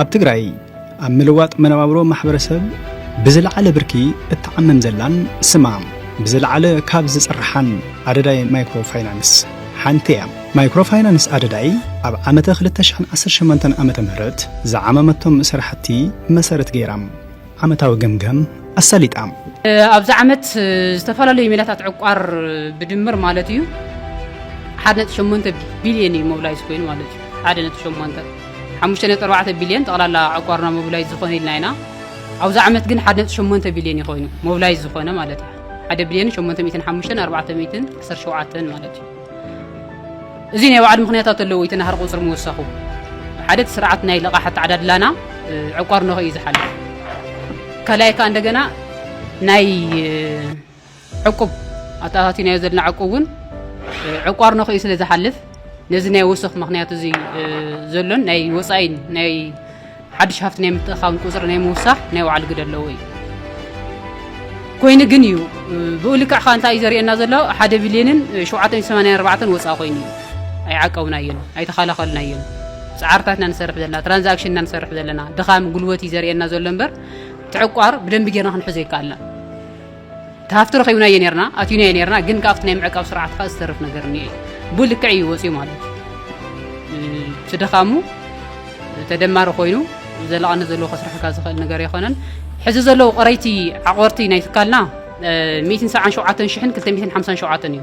ኣብ ትግራይ ኣብ ምልዋጥ መነባብሮ ማሕበረሰብ ብዝለዓለ ብርኪ እትዓምም ዘላን ስማ ብዝለዓለ ካብ ዝፅርሓን ኣደዳይ ማይክሮ ፋይናንስ ሓንቲ እያ። ማይክሮ ፋይናንስ ኣደዳይ ኣብ ዓመተ ክልተ ሽሕን ዓሰርተ ሸሞንተን ዓመተ ምህረት ዝዓመመቶም ስራሕቲ መሰረት ገይራ፣ ዓመታዊ ገምጋም ኣሳሊጣ። ኣብዚ ዓመት ዝተፈላለዩ ሜላታት ዕቋር ብድምር ማለት እዩ ሓደ ነጥቢ ሸሞንተ ቢልየን እዩ ሞብላይዝ ኮይኑ ማለት እዩ ሓደ ነጥቢ ሸሞንተ ሓሙሽተ ነጥቢ ኣርባዕተ ቢልየን ጠቕላላ ዕቋርና ሞብላይዝ ዝኾነ ኢልና ኢና ኣብዚ ዓመት ግን ሓደ ነጥቢ ሸሞንተ ቢልየን እዩ ኮይኑ ሞብላይዝ ዝኾነ ማለት እዩ ሓደ ቢልየን ሸሞንተ ሚእትን ሓሙሽተን ኣርባዕተ ሚእትን ዓሰርተ ሸውዓተን ማለት እዩ እዚ ናይ ባዕሉ ምክንያታት ኣለዎ እቲ ናህሪ ቁፅሪ ምውሳኹ ሓደ እቲ ስርዓት ናይ ልቓሕ ኣተዓዳድላና ዕቋር ነኸ እዩ ዝሓልፍ ካልኣይ ከዓ እንደገና ናይ ዕቁብ ኣተኣታቲናዮ ዘለና ዕቁብ እውን ዕቋር ነኸ እዩ ስለ ዝሓልፍ ነዚ ናይ ወሰኽ ምክንያት እዚ ዘሎን ናይ ወፃኢን ናይ ሓድሽ ሃፍቲ ናይ ምትእኻብን ቁፅሪ ናይ ምውሳኽ ናይ ባዕሉ ግደ ኣለዎ እዩ ኮይኑ ግን እዩ ብኡ ልክዕ ከዓ እንታይ እዩ ዘርእየና ዘሎ ሓደ ቢልዮንን ሸውዓተን ሰማንያን ኣርባዕተን ወፃእ ኮይኑ እዩ ኣይዓቀብናዮን ኣይተኸላኸልናዮን ፃዕርታትና ንሰርሕ ዘለና ትራንዛክሽንና ንሰርሕ ዘለና ድኻም ጉልበት እዩ ዘርእየና ዘሎ እምበር ትዕቋር ብደንቢ ጌርና ክንሕዞ ይከኣልና ሃፍቲ ረኺብናዮ ነርና ኣትዩናዮ ነርና ግን ካብቲ ናይ ምዕቃብ ስርዓት ከዓ ዝተርፍ ነገር እኒኦ እዩ ቡ ልክዕ እዩ ወፅዩ ማለት እዩ እቲ ድኻሙ ተደማሪ ኮይኑ ዘለቐነት ዘለዎ ከስርሐካ ዝኽእል ነገር ኣይኮነን ሕዚ ዘለዉ ቕረይቲ ዓቆርቲ ናይ ትካልና 177 ሽሕን 257 እዩ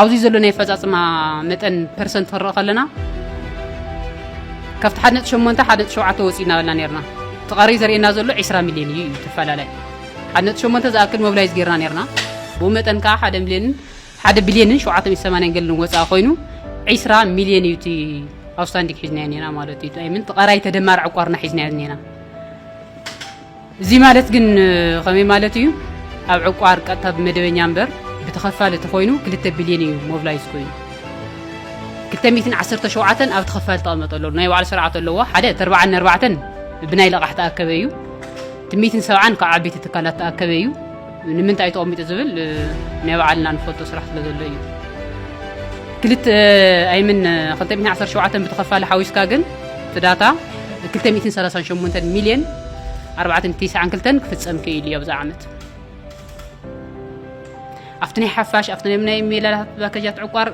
ኣብዚ ዘሎ ናይ ኣፈፃፅማ መጠን ፐርሰንት ክንርኢ ከለና ካብቲ ሓደ ነጥቢ ሸሞንተ ሓደ ነጥቢ ሸውዓተ ወፂእና በልና ነርና እቲ ቀሪ ዘርእየና ዘሎ ዕስራ ሚልዮን እዩ እዩ ተፈላለይ ሓደ ነጥቢ ሸሞንተ ዝኣክል ሞብላይዝ ጌርና ነርና ብኡ መጠን ከዓ ሓደ ሚልዮንን ሓደ ቢልዮንን ሸውዓተ ሚእቲ ሰማንያን ገልን ወፃኢ ኮይኑ ዒስራ ሚልዮን እዩ እቲ ኣውስታንዲግ ሒዝናዮ ኔና ማለት እዩ ኣይምንት ቐራይ ተደማር ዕቋርና ሒዝናዮ ኔና እዚ ማለት ግን ከመይ ማለት ኢዩ? ኣብ ዕቋር ቀጥታ ብመደበኛ እምበር ብተኸፋሊ ተኾይኑ ክልተ ቢልዮን ኢዩ ሞቭላይዝ ኮይኑ። ክልተ ሚእትን ዓሰርተ ሸውዓተን ኣብ ተኸፋሊ ተቐመጠ ኣሎ። ናይ ባዕሉ ስርዓት ኣለዎ። ሓደ እቲ ኣርባዓን ኣርባዕተን ብናይ ለቓሕ ተኣከበ ኢዩ። እቲ ሚእትን ሰብዓን ካብ ዓቢይቲ ትካላት ተኣከበ ኢዩ። ንምንታይ ተቐሚጡ ዝብል ናይ ባዕልና ንፈልጦ ስራሕ ስለ ዘሎ እዩ። ክልተ ኣይምን 217 ብተኸፋሊ ሓዊስካ ግን እቲ ዳታ 238 ሚልዮን 492 ክፍፀም ክኢሉ እዩ ኣብዚ ዓመት ኣብቲ ናይ ሓፋሽ ኣብቲ ናይ ሜላታት ፓኬጃት ዕቋር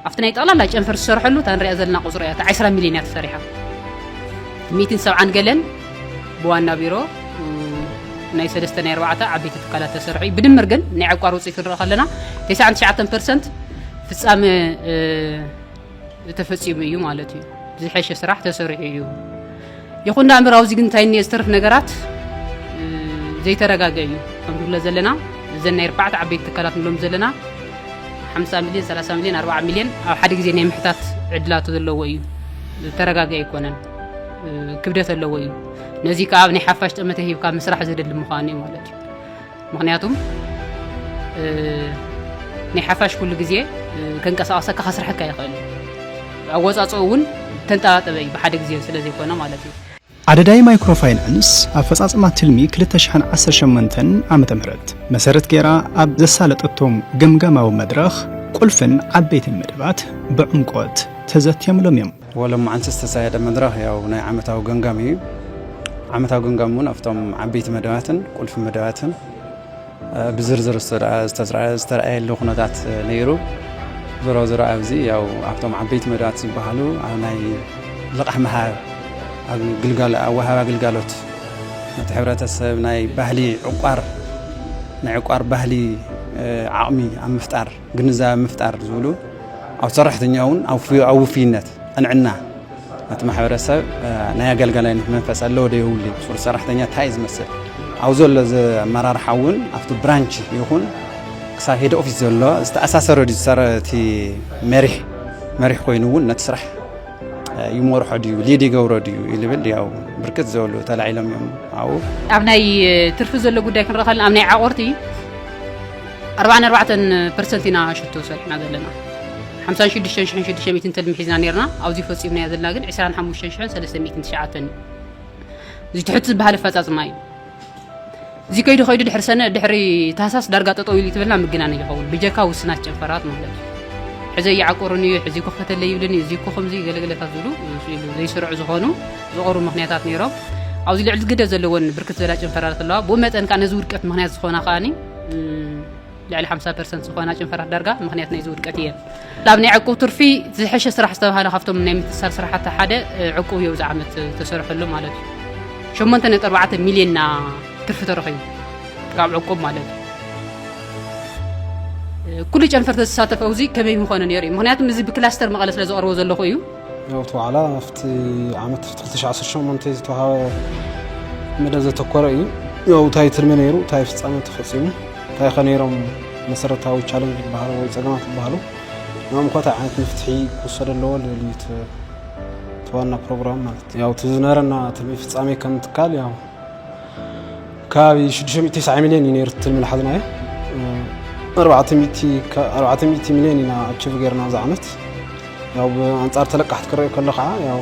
ኣብቲ ናይ ጠቕላላ ጨንፈር ዝሰርሐሉ እታ ንሪኣ ዘለና ቁፅሪ እያ፣ እታ ዕስራ ሚሊዮን እያ ተሰሪሓ። ሚእትን ሰብዓን ገለን ብዋና ቢሮ ናይ ሰለስተ ናይ ኣርባዕተ ዓበይቲ ትካላት ተሰርሑ እዩ። ብድምር ግን ናይ ዕቋር ውፅኢት ክንርኢ ከለና ተስዓን ትሽዓተን ፐርሰንት ፍፃመ እ፣ ተፈፂሙ እዩ ማለት እዩ። ዝሐሸ ስራሕ ተሰሪሑ እዩ። ይኹን ዳ እምበር ኣብዚ ግን እንታይ እኒኦ ዝተርፍ ነገራት ዘይተረጋገ እዩ ከም ንብሎ ዘለና እዘን ናይ ኣርባዕተ ዓበይቲ ትካላት ንብሎም ዘለና 50 ሚልዮን 30 ሚልዮን 40 ሚልዮን ኣብ ሓደ ግዜ ናይ ምሕታት ዕድላቱ ዘለዎ እዩ ዝተረጋገ ኣይኮነን ክብደት ኣለዎ እዩ ነዚ ከዓ ኣብ ናይ ሓፋሽ ጠመተ ሂብካ ምስራሕ ዘደሊ ምዃኑ እዩ ማለት እዩ ምክንያቱም ናይ ሓፋሽ ኩሉ ግዜ ከንቀሳቐሰካ ከስርሐካ ይኽእል ኣወፃፅኦ እውን ተንጠባጠበ እዩ ብሓደ ግዜ ስለ ዘይኮነ ማለት እዩ ኣደዳይ ማይክሮ ፋይናንስ ኣፈፃፅማ ትልሚ 2018 ዓ ም መሰረት ገይራ ኣብ ዘሳለጠቶም ገምጋማዊ መድረኽ ቁልፍን ዓበይትን መደባት ብዕምቆት ተዘትዮምሎም እዮም ወሎማዓንቲ ዝተሳየደ መድረኽ ያው ናይ ዓመታዊ ገምጋም እዩ። ዓመታዊ ገምጋም እውን ኣብቶም ዓበይቲ መደባትን ቁልፊ መደባትን ብዝርዝር ዝተረኣየሉ ኩነታት ነይሩ። ዞሮ ዞሮ ኣብዚ ያው ኣብቶም ዓበይቲ መደባት ዝበሃሉ ኣብ ናይ ልቓሕ ምሃብ ኣወሃባ ግልጋሎት ነቲ ሕብረተሰብ ናይ ባህሊ ዕቋር ናይ ዕቋር ባህሊ ዓቕሚ ኣብ ምፍጣር ግንዛበ ምፍጣር ዝብሉ ኣብ ሰራሕተኛ እውን ኣብ ውፍይነት ቅንዕና ነቲ ማሕበረሰብ ናይ ኣገልጋላይነት መንፈስ ኣለዎ ዶ የብሉ ሱር ሰራሕተኛ እንታይ እዩ ዝመስል ኣብ ዘሎ ኣመራርሓ እውን ኣብቲ ብራንች ይኹን ክሳብ ሄድ ኦፊስ ዘሎ ዝተኣሳሰረ ድዩ እቲ መሪሕ መሪሕ ኮይኑ እውን ነቲ ስራሕ ይመርሖ ድዩ ሊድ ይገብሮ ድዩ ይብል ያው ብርክት ዝበሉ ተላዒሎም እዮም ኣብኡ ኣብ ናይ ትርፊ ዘሎ ጉዳይ ክንረኸልና ኣብ ናይ ዓቆርቲ ኣርባዓን ኣርባዕተን ፐርሰንት ኢና ሽቶ ሰሪሕና ዘለና ሓምሳን ሽዱሽተን ሽሕን ሽዱሽተ ሚእትን ተልሚ ሒዝና ነርና ኣብዚ ፈጺምናዮ ዘለና ግን ዕስራን ሓሙሽተን ሽሕን ሰለስተ ሚእትን ትሽዓተን እዩ እዚ ትሕት ዝበሃል ኣፈጻጽማ እዩ እዚ ከይዱ ከይዱ ድሕሪ ሰነ ድሕሪ ታህሳስ ዳርጋ ጠጠው ኢሉ ትብልና ምግናን ይኸውን ብጀካ ውስናት ጨንፈራት ማለት እዩ ሕዘ ይዓቆሩን እዩ ሕዚ ኮክተለ ይብልን እዩ እዚ ኮ ከምዚ ገለገለታት ዝብሉ ዘይስርዑ ዝኾኑ ዝቐሩ ምክንያታት ነይሮም ኣብዚ ልዕሊ ግደ ዘለዎን ብርክት ዝበላ ጨንፈራት ኣለዋ ብኡ መጠን ከዓ ነዚ ውድቀት ምክንያት ዝኾና ከዓኒ ልዕሊ ሓምሳ ፐርሰንት ዝኾና ጨንፈራት ዳርጋ ምክንያት ናይዚ ውድቀት እየን ኣብ ናይ ዕቁብ ትርፊ ዝሐሸ ስራሕ ዝተባሃለ ካብቶም ናይ ምትሳር ስራሕቲ ሓደ ዕቁብ እዮ እዚ ዓመት ተሰርሐሉ ማለት እዩ ሸሞንተ ነጥቢ ኣርባዕተ ሚልዮንና ትርፊ ተረኺቡ ካብ ዕቁብ ማለት እዩ ኩሉ ጨንፈር ተዝሳተፍ ኣብዚ ከመይ ምኾነ ነይሩ እዩ ምክንያቱም እዚ ብክላስተር መቐለ ስለ ዘቕርቦ ዘለኹ እዩ ናውቲ ዋዕላ ኣብቲ ዓመት 2018 ዝተዋሃበ መደብ ዘተኮረ እዩ ያው እንታይ ትልሚ ነይሩ እንታይ ፍፃመ ተፈፂሙ እንታይ ከ ነይሮም መሰረታዊ ቻለንጅ ዝበሃሉ ወይ ፀገማት ዝበሃሉ ናም ኮታ ዓይነት መፍትሒ ክውሰደ ኣለዎ ልብል እዩ እቲ ዋና ፕሮግራም ማለት ያው እቲ ዝነበረና ትልሚ ፍፃሜ ከም ትካል ያው ከባቢ 600 9 ሚልዮን እዩ ነይሩ ትልሚ ዝሓዝናዮ 400 ሚልዮን ኢና ኣችቭ ገይርና ኣብዚ ዓመት ያው ብኣንጻር ተለቃሕቲ ክረኦ ከሎ ከዓ ያው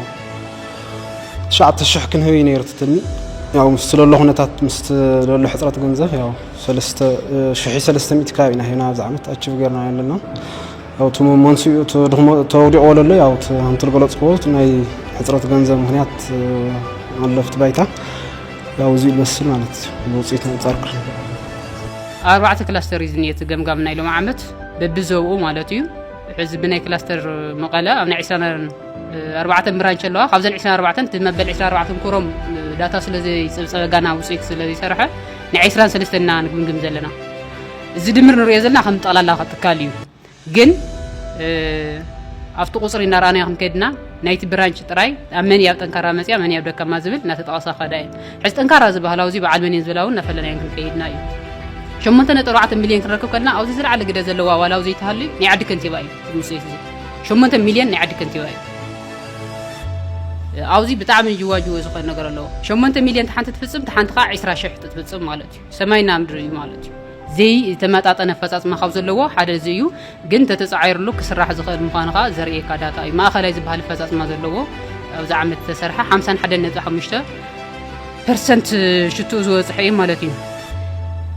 9 ሽሕ ክንህብ እዩ ነይሩ ትልሚ ያው ምስ ለሎ ኩነታት ምስ ለሎ ሕፅረት ገንዘብ ያው 3 ሽሒ 300 ከባቢ ኢና ሂብና ኣብዚ ዓመት ኣችቭ ገይርና ኣለና ያው እቲ መንስኡ ተወዲቆ ለሎ ያው ኣንቲ ዝገለፅክዎ ናይ ሕፅረት ገንዘብ ምክንያት ኣለፍቲ ባይታ ያው እዚ ይመስል ማለት እዩ ውፅኢት ኣንፃር ኣርባዕተ ክላስተር እዩ ዝኒኤ እቲ ገምጋም ናይ ሎም ዓመት በቢዘብኡ ማለት እዩ ሕዚ ብናይ ክላስተር መቐለ ኣብ ናይ 24 ብራንች ኣለዋ ካብዘን 24 እቲ መበል 24 ኩሮም ዳታ ስለዘይፀብፀበ ጋና ውፅኢት ስለዘይሰርሐ ናይ 23 ኢና ንግምግም ዘለና እዚ ድምር ንሪኦ ዘለና ከም ጠቕላላ ትካል እዩ ግን ኣብቲ ቁፅሪ እናረኣናዮ ክንከድና ናይቲ ብራንች ጥራይ ኣብ መን ኣብ ጠንካራ መፅያ መን ኣብ ደካማ ዝብል እናተጠቐሳ ከዳ እየን ሕዚ ጠንካራ ዝበሃላ ኣብዚ በዓል መን እየን ዝብላ እውን እናፈለናየን ክንከይድና እዩ ሸሞንተ ነጥቢ ኣርባዕተ ሚልዮን ክንረክብ ከለና ኣብዚ ዝለዓለ ግደ ዘለዋ ዋላ ኣብ ዘይተሃልዩ ናይ ዓዲ ከንቲባ እዩ ውፅኢት እዚ ሸሞንተ ሚልዮን ናይ ዓዲ ከንቲባ እዩ ኣብዚ ብጣዕሚ ጅዋጅወ ዝኾነ ነገር ኣለዎ ሸሞንተ ሚልዮን ተሓንቲ ትፍፅም ተሓንቲ ከዓ ዕስራ ሽሕ ትፍፅም ማለት እዩ ሰማይና ምድሪ እዩ ማለት እዩ ዘይ ተመጣጠነ ኣፈፃፅማ ካብ ዘለዎ ሓደ እዚ እዩ ግን ተተፃዒርሉ ክስራሕ ዝኽእል ምዃኑ ከዓ ዘርእየካ ዳታ እዩ ማእኸላይ ዝበሃል ኣፈፃፅማ ዘለዎ ኣብዚ ዓመት ዝተሰርሐ 51.5 ፐርሰንት ሽትኡ ዝበፅሐ እዩ ማለት እዩ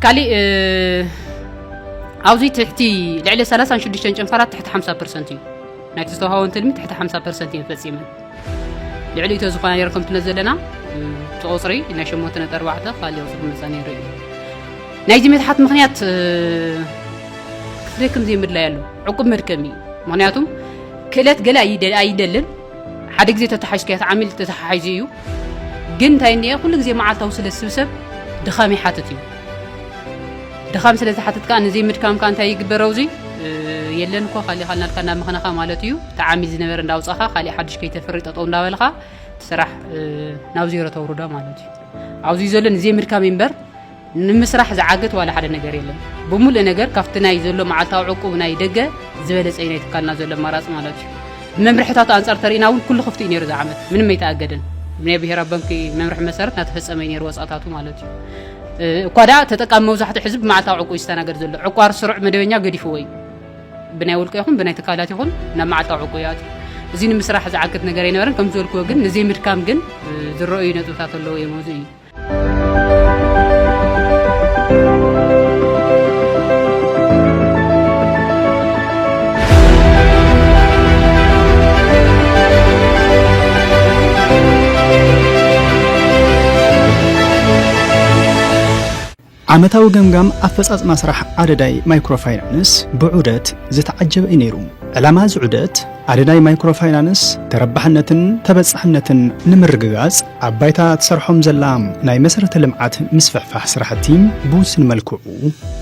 ካሊእ ኣብዚ ትሕቲ ልዕሊ 36 ጨንፈራት ትሕቲ 50 ፐርሰንት እዩ ናይቲ ዝተውሃቦም ትልሚ ትሕቲ 50 ፐርሰንት እየን ፈፂመን ልዕሊኡ ተዝኾና ነይሩ ከምቲ ነዚ ዘለና እቲ ቁፅሪ ናይ ሸሞንተ ነጥቢ ኣርባዕተ ካልእ ቁፅሪ ምርጫ ነይሩ እዩ ናይዚ መትሓት ምክንያት ክትደክም ዘይምድላይ ኣሎ ዕቁብ መድከሚ እዩ ምክንያቱ ክእለት ገለ ኣይደልን ሓደ ግዜ ተተሓሽከያ ተዓሚል ተተሓሒዙ እዩ ግን እንታይ እኒአ ኩሉ ግዜ መዓልታዊ ስለ ዝስብሰብ ድኻም ይሓትት እዩ ድኻም ስለ ዝሓትት ከኣ ንዘይ ምድካም ከኣ እንታይ ይግበር ኣውዚ የለን እኮ ካሊእ ካልናልካ እንዳ መኸነኻ ማለት እዩ እቲ ዓሚል ዝነበረ እንዳውጻኻ ካሊእ ሓድሽ ከይተፍሪ ጠጠው እንዳበልኻ ስራሕ ናብ ዜሮ ተውርዶ ማለት እዩ ኣብዚ ዘሎ ንዘይ ምድካም እምበር ንምስራሕ ዝዓግት ዋላ ሓደ ነገር የለን ብምሉእ ነገር ካብቲ ናይ ዘሎ መዓልታዊ ዕቁብ ናይ ደገ ዝበለፀ እዩ ናይ ትካልና ዘሎ ኣማራፂ ማለት እዩ ብመምርሕታቱ ኣንፃር ተርእና እውን ኩሉ ክፍቲ እዩ ነይሩ ዝዓመት ምንም ኣይተኣገደን ናይ ብሄራዊ ባንኪ መምርሒ መሰረት እናተፈፀመ እዩ ነይሩ ወፃታቱ ማለት እዩ እኳ ደኣ ተጠቃሚ መብዛሕትኡ ሕዚ ብመዓልታዊ ዕቁብ እዩ ዝስተናገድ ዘሎ። ዕቋር ስሩዕ መደበኛ ገዲፍዎ እዩ። ብናይ ውልቀ ይኹን ብናይ ትካላት ይኹን ናብ መዓልታዊ ዕቁብ ይኣትዩ። እዚ ንምስራሕ ዝዓግት ነገር ኣይነበረን። ከም ዝበልክዎ ግን ንዘይምድካም ግን ዝረኣዩ ነጥብታት ኣለዎ እዮም። እዚ እዩ ዓመታዊ ገምጋም ኣፈፃፅማ ስራሕ ኣደዳይ ማይክሮ ፋይናንስ ብዑደት ዝተዓጀበ እዩ ነይሩ። ዕላማ እዚ ዑደት ኣደዳይ ማይክሮ ፋይናንስ ተረባሕነትን ተበፃሕነትን ንምርግጋፅ ኣብ ባይታ ትሰርሖም ዘላ ናይ መሰረተ ልምዓት ምስፍሕፋሕ ስራሕቲ ብውስን መልክዑ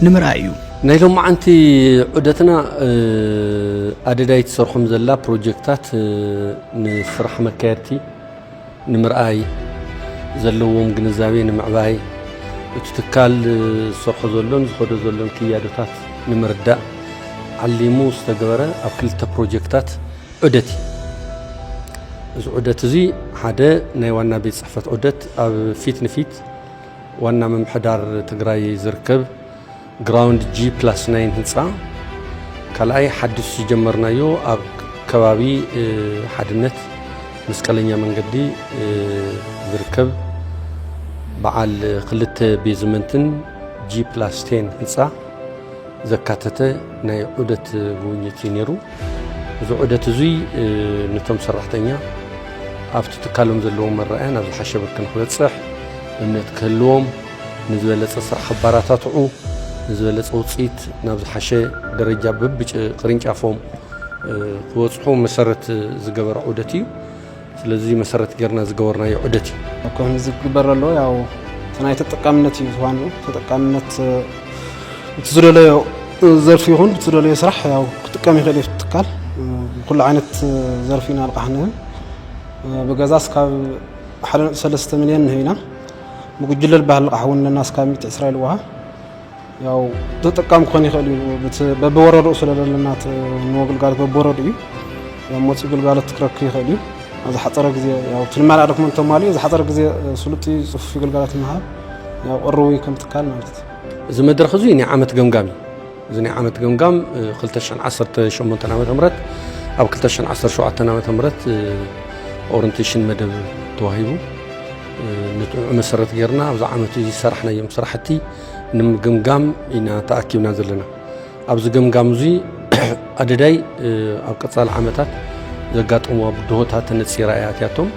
ንምርኣይ እዩ። ናይ ሎማዓንቲ ዑደትና ኣደዳይ ትሰርሖም ዘላ ፕሮጀክታት ንስራሕ መካየድቲ ንምርኣይ፣ ዘለዎም ግንዛቤ ንምዕባይ፣ እቲ ትካል ዝሰርሖ ዘሎን ዝኸዶ ዘሎን ክያዶታት ንምርዳእ ዓሊሙ ዝተገበረ ኣብ ክልተ ፕሮጀክታት ዑደት እዩ። እዚ ዑደት እዚ ሓደ ናይ ዋና ቤት ፅሕፈት ዑደት ኣብ ፊት ንፊት ዋና ምምሕዳር ትግራይ ዝርከብ ግራውንድ ጂ ፕላስ ናይን ህንፃ ካልኣይ ሓዱሽ ዝጀመርናዮ ኣብ ከባቢ ሓድነት መስቀለኛ መንገዲ ዝርከብ በዓል ክልተ ቤዝመንትን ጂ ፕላስ ቴን ህንፃ ዘካተተ ናይ ዑደት ጉብኝት እዩ ነይሩ። እዚ ዑደት እዙይ ነቶም ሰራሕተኛ ኣብቲ ትካሎም ዘለዎም መረኣያ ናብ ዝሓሸ ብርኪ ንክበፅሕ እምነት ክህልዎም ንዝበለፀ ስራሕ ክበራታትዑ፣ ንዝበለፀ ውፅኢት ናብ ዝሓሸ ደረጃ በቢቅርንጫፎም ክበፅሑ መሰረት ዝገበረ ዑደት እዩ። ስለዚ መሰረት ጌርና ዝገበርናዮ ዑደት እዩ። ኣብ ከምዚ ዝግበር ዘሎ ያው እቲ ናይ ተጠቃምነት እዩ ዋንኡ ተጠቃምነት እቲ ዝደለዮ ዘርፊ ይኹን እቲ ዝደለዮ ስራሕ ያው ክጥቀም ይኽእል እዩ ትካል ብኩሉ ዓይነት ዘርፊ ኢና ልቃሕ ንህብ ብገዛስ ካብ ሓደ ነጥቢ ሰለስተ ሚልዮን ንህብ ኢና ብጉጅለ ዝበሃል ልቓሕ እውን ኣለና እስካብ ሚእቲ ዕስራ ኢልዋ ያው ተጠቃሚ ክኾን ይኽእል እዩ በብወረድኡ ስለ ዘለና ንዎ ግልጋሎት በብወረድኡ እዩ ያው መፅኡ ግልጋሎት ክረክ ይኽእል እዩ ኣብ ዝሓፀረ ግዜ ያው ትልማላ ደክሞ እንተማልኡ ዝሓፀረ ግዜ ስሉጥ እዩ ፅፉፍ ግልጋሎት ምሃብ ያው ቅርቡ እዩ ከም ትካል ማለት እዩ እዚ መድረኽ እዙይ ናይ ዓመት ገምጋም እዩ እዚ ናይ ዓመት ገምጋም 2018 ዓ ም ኣብ 2017 ዓ ም ኦሪንቴሽን መደብ ተዋሂቡ ንጥዑ መሰረት ጌርና ኣብዚ ዓመት እዚ ዝሰራሕናዮም ስራሕቲ ንምግምጋም ኢና ተኣኪብና ዘለና ኣብዚ ገምጋም እዚ ኣደዳይ ኣብ ቀፃሊ ዓመታት ዘጋጠምዋ ብድሆታት ተነፂራ እያ ኣትያቶም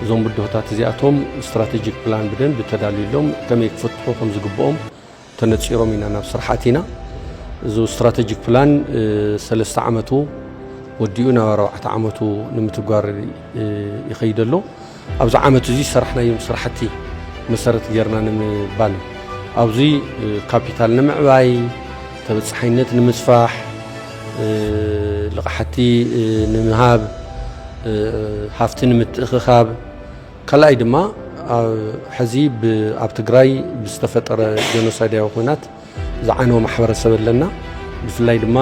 እዞም ብድሆታት እዚኣቶም ስትራቴጂክ ፕላን ብደንቢ ተዳልዩሎም ከመይ ክፍትሑ ከም ዝግብኦም ተነፂሮም ኢና ናብ ስራሕ ኣቲና። እዚ ስትራተጂክ ፕላን ሰለስተ ዓመቱ ወዲኡ ናብ ኣርባዕተ ዓመቱ ንምትግባር ይኸይድ ኣሎ። ኣብዚ ዓመት እዚ ዝሰራሕናዮም ስራሕቲ መሰረት ጌርና ንምባል ኣብዚ ካፒታል ንምዕባይ፣ ተበፃሓይነት ንምስፋሕ፣ ልቓሕቲ ንምሃብ፣ ሃፍቲ ንምትእኽኻብ፣ ካልኣይ ድማ ሕዚ ኣብ ትግራይ ብዝተፈጠረ ጀኖሳይዳዊ ኩናት ዝዓነወ ማሕበረሰብ ኣለና ብፍላይ ድማ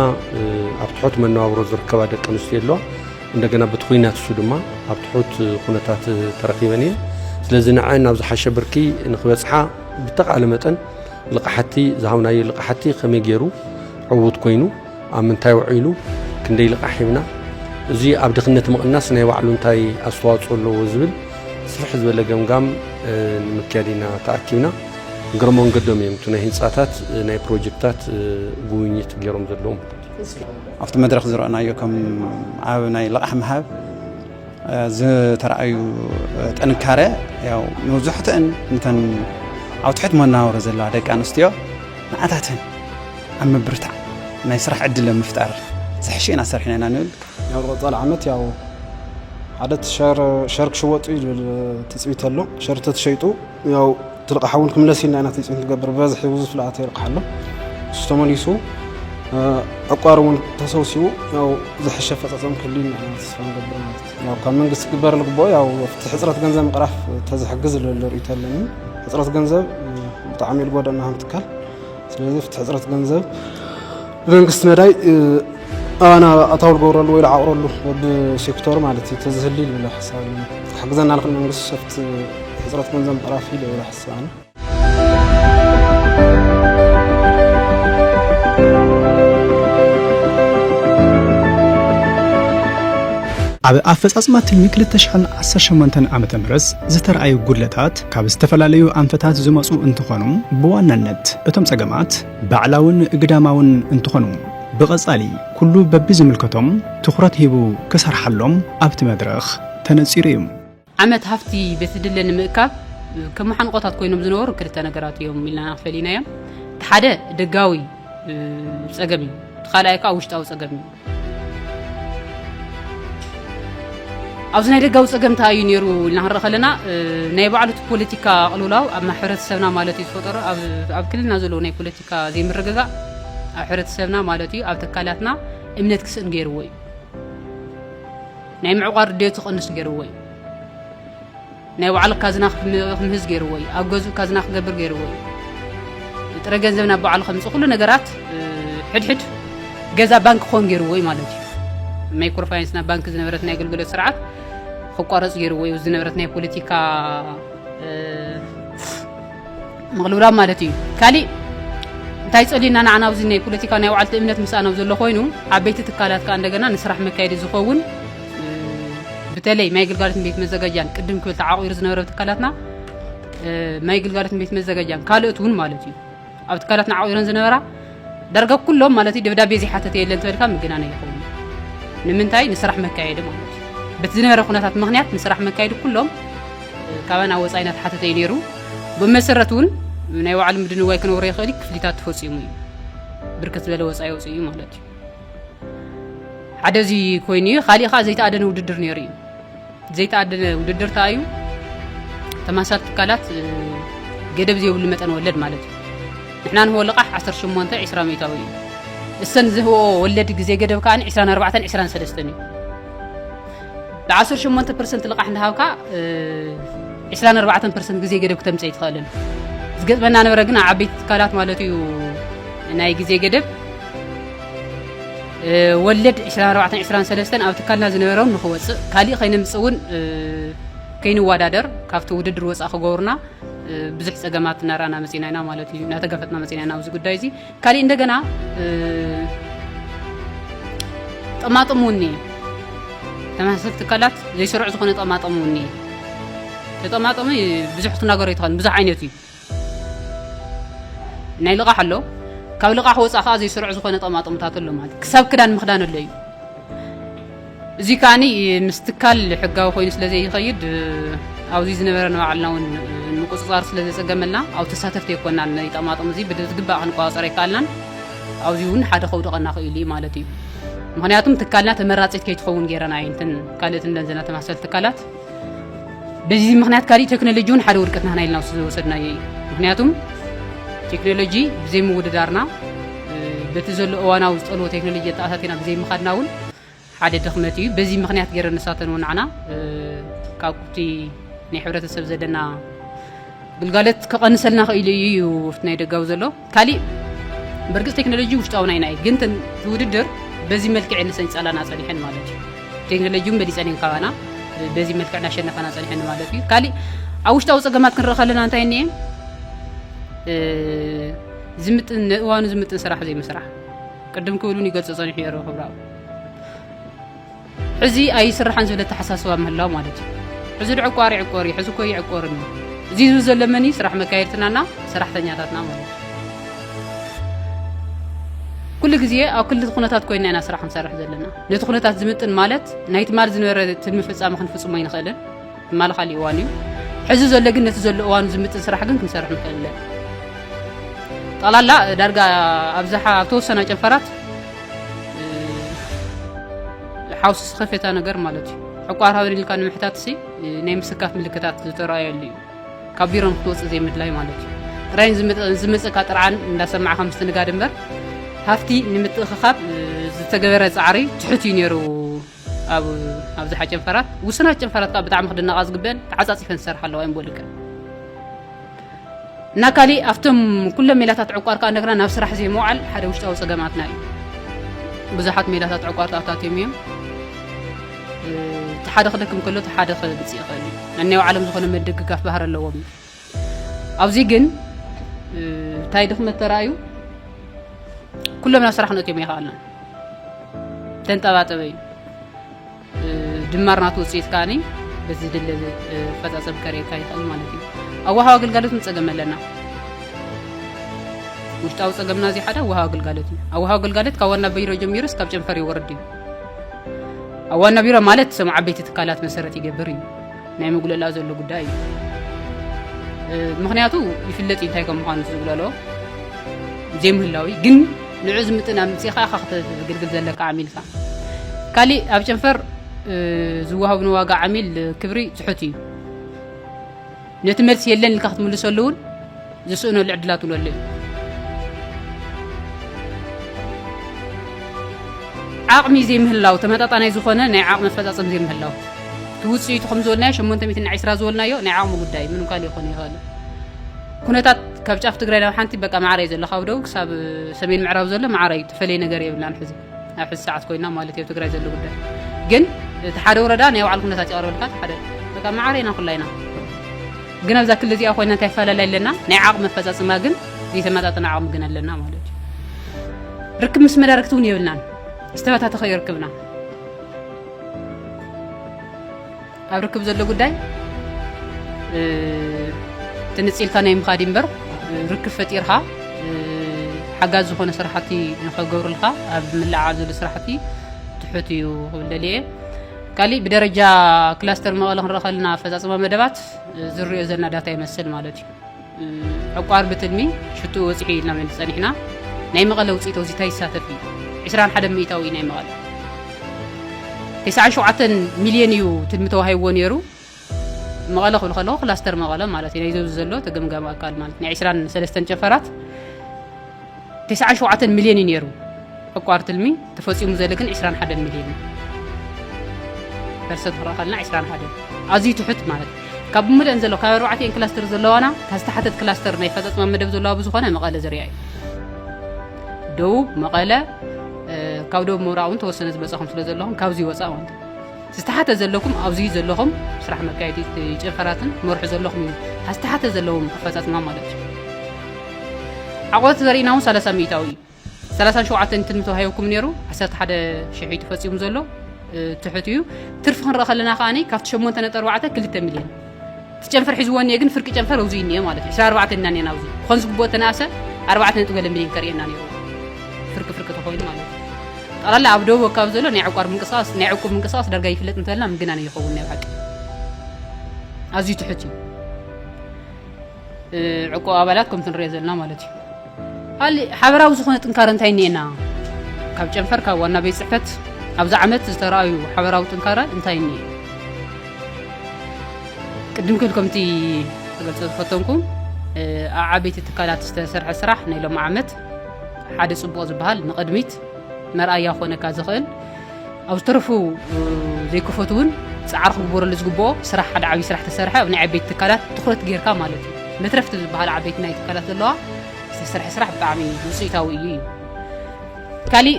ኣብ ትሑት መነባብሮ ዝርከባ ደቂ ኣንስትዮ ኣለዋ እንደገና በቲ ኩናት እሱ ድማ ኣብ ትሑት ኩነታት ተረኪበን እየን ስለዚ ንዐን ናብ ዝሓሸ ብርኪ ንክበፅሓ ብተቃለ መጠን ልቃሕቲ ዝሃብናዮ ልቃሕቲ ከመይ ገይሩ ዕዉት ኮይኑ ኣብ ምንታይ ውዒሉ ክንደይ ልቓሕ ሂብና እዚ ኣብ ድኽነት ምቕናስ ናይ ባዕሉ እንታይ ኣስተዋፅኦ ኣለዎ ዝብል ስፍሕ ዝበለ ገምጋም ንምክያድ ኢና ተኣኪብና እግረ መንገዶም እዮም እቲ ናይ ህንፃታት ናይ ፕሮጀክታት ጉብኝት ገይሮም ዘለዎም ኣብቲ መድረክ ዝረአናዮ ከም ኣብ ናይ ልቓሕ ምሃብ ዝተረኣዩ ጥንካረ ያው መብዛሕትአን እንተን ኣብ ትሕት መናወሪ ዘለዋ ደቂ ኣንስትዮ ንኣታተን ኣብ ምብርታዕ ናይ ስራሕ ዕድል ምፍጣር ዝሕሸ ኢና ሰርሕና ኢና ንብል ያው ቀፃሊ ዓመት ያው ሓደ ሸር ክሽወጡ ይብል ትፅቢት ኣሎ ሸር ተትሸይጡ ያው ትልቃ ሓውን ክምለስ ኢልና ኢና ተፅም ትገብር ብበዝሒ ብዙ ፍልኣት ይርቃ ኣሎ እሱ ተመሊሱ ዕቋር እውን ተሰውሲቡ ያው ዝሕሸ ፈፀፀም ክህሉ ኢና ተስፋ ንገብር ማለት እዩ ያው ካብ መንግስቲ ክግበር ልግብኦ ያው ኣብቲ ሕፅረት ገንዘብ ምቕራፍ ተዝሕግዝ ልበለ ርእይቶ ኣለኒ ሕፅረት ገንዘብ ብጣዕሚ ልጎደና ሃም ትካል ስለዚ ፍቲ ሕፅረት ገንዘብ ብመንግስቲ መዳይ ኣባና ኣታዊ ዝገብረሉ ወይ ዝዓቕረሉ ብሴክተሩ ማለት እዩ ተዝህሊ ይብል ሓሳብ ክሕግዘና ንኽእል መንግስቲ ሸፍት ሕፅረት ገንዘብ ምዕራፍ እዩ ይብል ሓሳብ ኣብ ኣፈፃፅማ ትልሚ 218 ዓ ም ዝተረኣዩ ጉድለታት ካብ ዝተፈላለዩ ኣንፈታት ዝመፁ እንትኾኑ ብዋናነት እቶም ፀገማት ባዕላውን ግዳማውን እንትኾኑ ብቐፃሊ ኩሉ በቢዝምልከቶም ትኹረት ሂቡ ክሰርሓሎም ኣብቲ መድረኽ ተነፂሩ እዩ። ዓመት ሃፍቲ በቲ ድለ ንምእካብ ከም መሓንቖታት ኮይኖም ዝነበሩ ክልተ ነገራት እዮም ኢልና ኢና ፈሊናዮም። እቲ ሓደ ደጋዊ ፀገም እዩ፣ እቲ ካልኣይ ከዓ ውሽጣዊ ፀገም እዩ። ኣብዚ ናይ ደጋዊ ጸገም እንታይ እዩ ነይሩ ኢልና ክንርኢ ከለና ናይ ባዕሉ እቲ ፖለቲካ ቅልውላው ኣብ ሕብረተሰብና ማለት እዩ ዝፈጠሮ ኣብ ክልልና ዘለዎ ናይ ፖለቲካ ዘይምርግጋእ ኣብ ሕብረተሰብና ማለት እዩ ኣብ ተካላትና እምነት ክስእን ገይርዎ እዩ ናይ ምዕቋር ድሌቱ ክቕንስ ገይርዎ እዩ ናይ ባዕሉ ካዝና ክምህዝ ገይርዎ እዩ። ኣብ ገዝኡ ካዝና ክገብር ገይርዎ እዩ። ጥረ ገንዘብ ናብ ባዕሉ ከምፅእ ኩሉ ነገራት ሕድሕድ ገዛ ባንክ ክኾን ገይርዎ እዩ ማለት እዩ። ማይክሮ ፋይናንስ ናብ ባንክ ዝነበረት ናይ ኣገልግሎት ስርዓት ክቋረፅ ገይርዎ እዩ። ዝነበረት ናይ ፖለቲካ ምቕልብላብ ማለት እዩ ካሊእ እንታይ ጸሊና ንዓና ኣብዚ ናይ ፖለቲካ ናይ ባዕልቲ እምነት ምስኣን ኣብ ዘሎ ኮይኑ ዓበይቲ ትካላት ከዓ እንደገና ንስራሕ መካየዲ ዝኸውን ብተለይ ማይ ግልጋሎትን ቤት መዘጋጃን ቅድም ክብል ተዓቑሩ ዝነበረ ትካላትና ማይ ግልጋሎትን ቤት መዘጋጃን ካልኦት እውን ማለት እዩ ኣብ ትካላትና ዓቑረን ዝነበራ ዳርጋ ኩሎም ማለት እዩ ደብዳቤ ዘይሓተተ የለን ተበልካ ምግናን ኣይኸውን ንምንታይ ንስራሕ መካየዲ ማለት እዩ በቲ ዝነበረ ኩነታት ምክንያት ንስራሕ መካየዲ ኩሎም ካባና ወፃኢ እናተሓተተ እዩ ነይሩ ብመሰረት እውን ናይ ባዕሉ ምድንጓይ ክነብሮ ይኽእል እዩ ክፍሊታት ተፈፂሙ እዩ ብርክት ዝበለ ወፃኢ ወፅኡ እዩ ማለት እዩ ሓደ እዚ ኮይኑ እዩ ካሊእ ከዓ ዘይተኣደነ ውድድር ነይሩ እዩ ዘይተኣደነ ውድድር ተኣዩ ተማሳል ትካላት ገደብ ዘይብሉ መጠን ወለድ ማለት እዩ ንሕና ንህቦ ልቓሕ 18 20 ሚእታዊ እዩ እሰን ዝህቦ ወለድ ግዜ ገደብ ከዓ 24 23 እዩ ብ18 ፐርሰንት ልቓሕ እንዳሃብካ 24 ፐርሰንት ግዜ ገደብ ክተምፀ ይትኽእልን ዝገጥመና ነበረ ግን ኣብ ዓበይቲ ትካላት ማለት እዩ ናይ ግዜ ገደብ ወለድ ዕስራን ኣርባዕተን ዕስራን ሰለስተን ኣብ ትካልና ዝነበሮም ንክወፅእ ካሊእ ከይነምፅእ እውን ከይንወዳደር ካብቲ ውድድር ወፃእ ክገብሩና ብዙሕ ፀገማት እናረኣና መፂና ኢና ማለት እዩ እናተጋፈጥና መፂና ኢና ኣብዚ ጉዳይ እዚ ካሊእ እንደገና ጠማጥም እውን እየ ተመሳሰልቲ ትካላት ዘይስሩዕ ዝኾነ ጠማጥም እውን እየ ተጠማጥም ብዙሕ ክትናገሮ ይትኽእል ብዙሕ ዓይነት እዩ ናይ ልቓሕ ኣሎ ካብ ልቓሕ ወፃእ ከዓ ዘይስሩዕ ዝኾነ ጠማጥምታት ኣሎ ማለት ክሳብ ክዳን ምኽዳን ኣሎ እዩ እዚ ከዓ ምስ ትካል ሕጋዊ ኮይኑ ስለ ዘይኸይድ ኣብዚ ዝነበረ ንባዕልና እውን ምቁፅፃር ስለ ዘፀገመልና ኣብ ተሳተፍቲ የኮናን ናይ ጠማጥም እዚ ብዝግባእ ክንቆፃፀር ኣይከኣልናን ኣብዚ እውን ሓደ ከውድቐና ክኢሉ እዩ ማለት እዩ ምክንያቱም ትካልና ተመራፂት ከይትኸውን ገይረና እየንትን ካልእትን ደንዘና ተመሳሰል ትካላት በዚ ምክንያት ካሊእ ቴክኖሎጂ እውን ሓደ ውድቀት ናህና ኢልና ዝወሰድናዮ እዩ ምክንያቱም ቴክኖሎጂ ብዘይ ምውድዳርና በቲ ዘሎ እዋናዊ ዝጠልቦ ቴክኖሎጂ ኣተኣታቲና ብዘይ ምኻድና እውን ሓደ ድኽመት እዩ በዚ ምክንያት ገይረ ንሳተን እውን ንዓና ካብቲ ናይ ሕብረተሰብ ዘለና ግልጋሎት ክቐንሰልና ክኢሉ እዩ እዩ ናይ ደጋዊ ዘሎ ካሊእ በርግፅ ቴክኖሎጂ ውሽጣዊ ናይ ናይ ግን እቲ ውድድር በዚ መልክዕ እየን ሰንፃላና ፀኒሐን ማለት እዩ። ቴክኖሎጂ እውን በሊፀን እየን ካባና በዚ መልክዕ እናሸነፋና ፀኒሐን ማለት እዩ። ካሊእ ኣብ ውሽጣዊ ፀገማት ክንርኢ ከለና እንታይ እኒኤ ዝምጥን ንእዋኑ ዝምጥን ስራሕ ዘይምስራሕ ቅድም ክብሉን ይገልፆ ፀኒሑ እየ ክብራዊ ሕዚ ኣይስራሕን ዝብል ኣተሓሳስባ ምህላው ማለት እዩ። ሕዚ ዶ ዕቋር ይዕቆር እዩ፣ ሕዚ እኮ ኣይዕቆርን እዩ። እዚ ዝብል ዘሎ መን እዩ? ስራሕ መካየድትናና ሰራሕተኛታትና ማለት እዩ። ኩሉ ግዜ ኣብ ክልቲ ኩነታት ኮይና ኢና ስራሕ ክንሰርሕ ዘለና። ነቲ ኩነታት ዝምጥን ማለት ናይ ትማል ዝነበረ ትልሚ ፍጻመ ክንፍጽሞ ኣይንኽእልን። ትማሊ ካሊእ እዋን እዩ ሕዚ ዘሎ ግን ነቲ ዘሎ እዋኑ ዝምጥን ስራሕ ግን ክንሰርሕ ንኽእል ኣለና ጠቕላላ ዳርጋ ኣብዝሓ ኣብ ተወሰና ጨንፈራት ሓውሲ ዝኸፈታ ነገር ማለት እዩ ዕቋር ሃበን ኢልካ ንምሕታት ሲ ናይ ምስካፍ ምልክታት ዝተረኣየሉ እዩ ካብ ቢሮን ክትወፅእ ዘይምድላይ ማለት እዩ ጥራይን ዝመፀካ ጥርዓን እንዳሰማዕካ ምስትንጋድ እምበር ሃፍቲ ንምትእኽኻብ ዝተገበረ ፃዕሪ ትሑት እዩ ነይሩ ኣብ ኣብዝሓ ጨንፈራት ውስናት ጨንፈራት ከዓ ብጣዕሚ ክድነቃ ዝግበን ተዓፃፂፈን ዝሰርሓ ኣለዋ እዮም ቦሊቀን እና ካሊእ ኣብቶም ኩሎም ሜላታት ዕቋር ከዓ እንደገና ናብ ስራሕ ዘይምውዓል ሓደ ውሽጣዊ ፀገማትና እዩ ብዙሓት ሜላታት ዕቋር ተኣታትዮም እዮም እቲ ሓደ ክደክም ከሎ እቲ ሓደ ክምፅእ ይኽእል እዩ ነናይ ባዕሎም ዝኾነ ምድግጋፍ ባህር ኣለዎም ኣብዚ ግን እንታይ ድኽመት ተራእዩ ኩሎምና ስራሕ ነትዮም ይኸኣልና ተንጠባጠበ እዩ ድማር ናቱ ውፅኢት ከዓኒ በዚ ድለ ፈፃፀም ከርእየካ ይኽእል ማለት እዩ ኣዋሃዊ ኣገልጋሎት ንፀገም ኣለና ውሽጣዊ ፀገምና እዚ ሓደ ኣዋሃዊ ኣገልጋሎት እዩ ኣዋሃዊ ኣገልጋሎት ካብ ዋና ቢሮ ጀሚሩ እስካብ ጨንፈር ይወርድ እዩ ኣብ ዋና ቢሮ ማለት ሰም ዓበይቲ ትካላት መሰረት ይገብር እዩ ናይ ምጉለላ ዘሎ ጉዳይ እዩ ምክንያቱ ይፍለጥ እዩ እንታይ ከም ምዃኑ ዝጉለሎ ዘይምህላዊ ግን ንዑ ዝምጥን ኣምፅኻ ኢኻ ክትግልግል ዘለካ ዓሚልካ ካሊእ ኣብ ጨንፈር ዝወሃብ ንዋጋ ዓሚል ክብሪ ትሑት እዩ ነቲ መልሲ የለን ኢልካ ክትምልሰሉ እውን ዝስእነሉ ዕድላት እውን ኣሎ እዩ። ዓቕሚ ዘይምህላው፣ ተመጣጣናይ ዝኾነ ናይ ዓቕሚ ኣፈፃፀም ዘይምህላው እቲ ውፅኢቱ ከም ዝበልናዮ ሸሞንተ ሚእቲ ንዓይ ስራ ዝበልናዮ ናይ ዓቕሚ ጉዳይ ምንም ካልእ ይኾን ይኸእል ኩነታት ካብ ጫፍ ትግራይ ናብ ሓንቲ በቃ ማዕረ እዩ ዘሎ ካብ ደቡብ ክሳብ ሰሜን ምዕራብ ዘሎ ማዕረ እዩ ተፈለየ ነገር የብልናን ሕዚ ኣብ ሕዚ ሰዓት ኮይና ማለት ኣብ ትግራይ ዘሎ ጉዳይ ግን እቲ ሓደ ወረዳ ናይ ባዕሉ ኩነታት ይቐርበልካ እቲ ሓደ በቃ መዓረ ኢና ኩላ ኢና ግን ኣብዛ ክሊ እዚኣ ኮይና እንታይ ይፈላለይ ኣለና ናይ ዓቕሚ ኣፈፃፅማ ግን ዘይተመጣጠነ ዓቕሚ ግን ኣለና ማለት እዩ ርክብ ምስ መዳርግቲ እውን የብልናን ዝተበታተኸ ይርክብና ኣብ ርክብ ዘሎ ጉዳይ ትንጺልካ ናይ ምኻድ እምበር ርክብ ፈጢርካ ሓጋዝ ዝኾነ ስራሕቲ ንኸገብሩልካ ኣብ ምልዕዓል ዘሎ ስራሕቲ ትሑት እዩ ክብል ደልየ ካሊእ ብደረጃ ክላስተር መቐለ ክንረኸልና ኣፈፃፅማ መደባት ዝርዮ ዘለና ዳታ ይመስል ማለት እዩ ዕቋር ብትልሚ ሽትኡ በፂሑ እዩ ኢልና ፀኒሕና ናይ መቐለ ውፅኢት ወዚታ ይሳተፍ እዩ 21 ሚእታዊ ናይ መቐለ 97 ሚልዮን እዩ ትልሚ ተዋሂብዎ ነይሩ መቐለ ክብል ከለኹ ክላስተር መቐለ ማለት እዩ ናይ ዘብዚ ዘሎ ተገምጋሚ ኣካል ማለት ናይ 23 ጨፈራት ተስዓን ሸውዓተን ሚልዮን እዩ ነይሩ ዕቋር ትልሚ ተፈፂሙ ዘለ ግን ዕስራን ሓደን ሚልዮን እዩ ፐርሰንት ክንረእ ከለና ዕስራን ሓደን ኣዝዩ ትሑት ማለት እዩ ካብ ብምልአን ዘሎ ካብ ኣርባዕተን ክላስተር ዘለዋና ካብ ዝተሓተት ክላስተር ናይ ፈፀፅማ መደብ ዘለዋ ብዝኾነ መቐለ ዝርያ እዩ ደቡብ መቐለ ካብ ደቡብ ምብራቕ እውን ተወሰነ ዝመፀኹም ስለ ዘለኹም ካብዚ ወፃእ ማለት ዝተሓተ ዘለኩም ኣብዚ ዘለኹም ስራሕ መካየዲ ጨንፈራትን መርሑ ዘለኹም እዩ ዝተሓተ ዘለዎም ኣፈፃፅማ ማለት እዩ ዓቆት ዘርእና እውን 30 ሚእታዊ እዩ 37 እንትን ተዋሂብኩም ነይሩ 11 ሽሕ እዩ ተፈፂሙ ዘሎ ትሑት እዩ ትርፊ ክንርኢ ከለና ከዓኒ ካብቲ 8 ነጥቢ 4 ክልተ ሚልዮን እቲ ጨንፈር ሒዝዎ እኒኤ ግን ፍርቂ ጨንፈር ኣብዙ እኒኤ ማለት እዩ ዕስራ ኣርባዕተ እና እኒኤና ኣብዙ ክኾን ዝግብኦ ተነኣሰ ኣርባዕተ ነጥቢ ገለ ሚሊዮን ከርእየና ነይሩ ፍርቂ ፍርቂ ተኾይኑ ማለት እዩ ጠቕላላ ኣብ ደቡብ ኣካባቢ ዘሎ ናይ ዕቋር ምንቅስቃስ ናይ ዕቁብ ምንቅስቃስ ዳርጋ ይፍለጥ እንተበልና ምግናን ይኸውን ናይ ብሓቂ ኣዝዩ ትሑት እዩ ዕቁብ ኣባላት ከምቲ ንሪኦ ዘለና ማለት እዩ ካልእ ሓበራዊ ዝኾነ ጥንካረ እንታይ እኒኤና ካብ ጨንፈር ካብ ዋና ቤት ፅሕፈት ኣብዚ ዓመት ዝተረኣዩ ሓበራዊ ጥንካረ እንታይ እኒኤ ቅድም ክብል ከምቲ ተገልፆ ዝፈተንኩም ኣብ ዓበይቲ ትካላት ዝተሰርሐ ስራሕ ናይ ሎም ዓመት ሓደ ፅቡቕ ዝበሃል ንቕድሚት መርኣያ ኮነካ ዝኽእል ኣብ ዝተረፉ ዘይከፈቱ እውን ፃዕሪ ክግበረሉ ዝግብኦ ስራሕ ሓደ ዓብዪ ስራሕ ተሰርሐ ኣብ ናይ ዓበይቲ ትካላት ትኩረት ጌርካ ማለት እዩ መትረፍቲ ዝበሃል ዓበይቲ ናይ ትካላት ዘለዋ ዝተሰርሐ ስራሕ ብጣዕሚ ውፅኢታዊ እዩ እዩ ካሊእ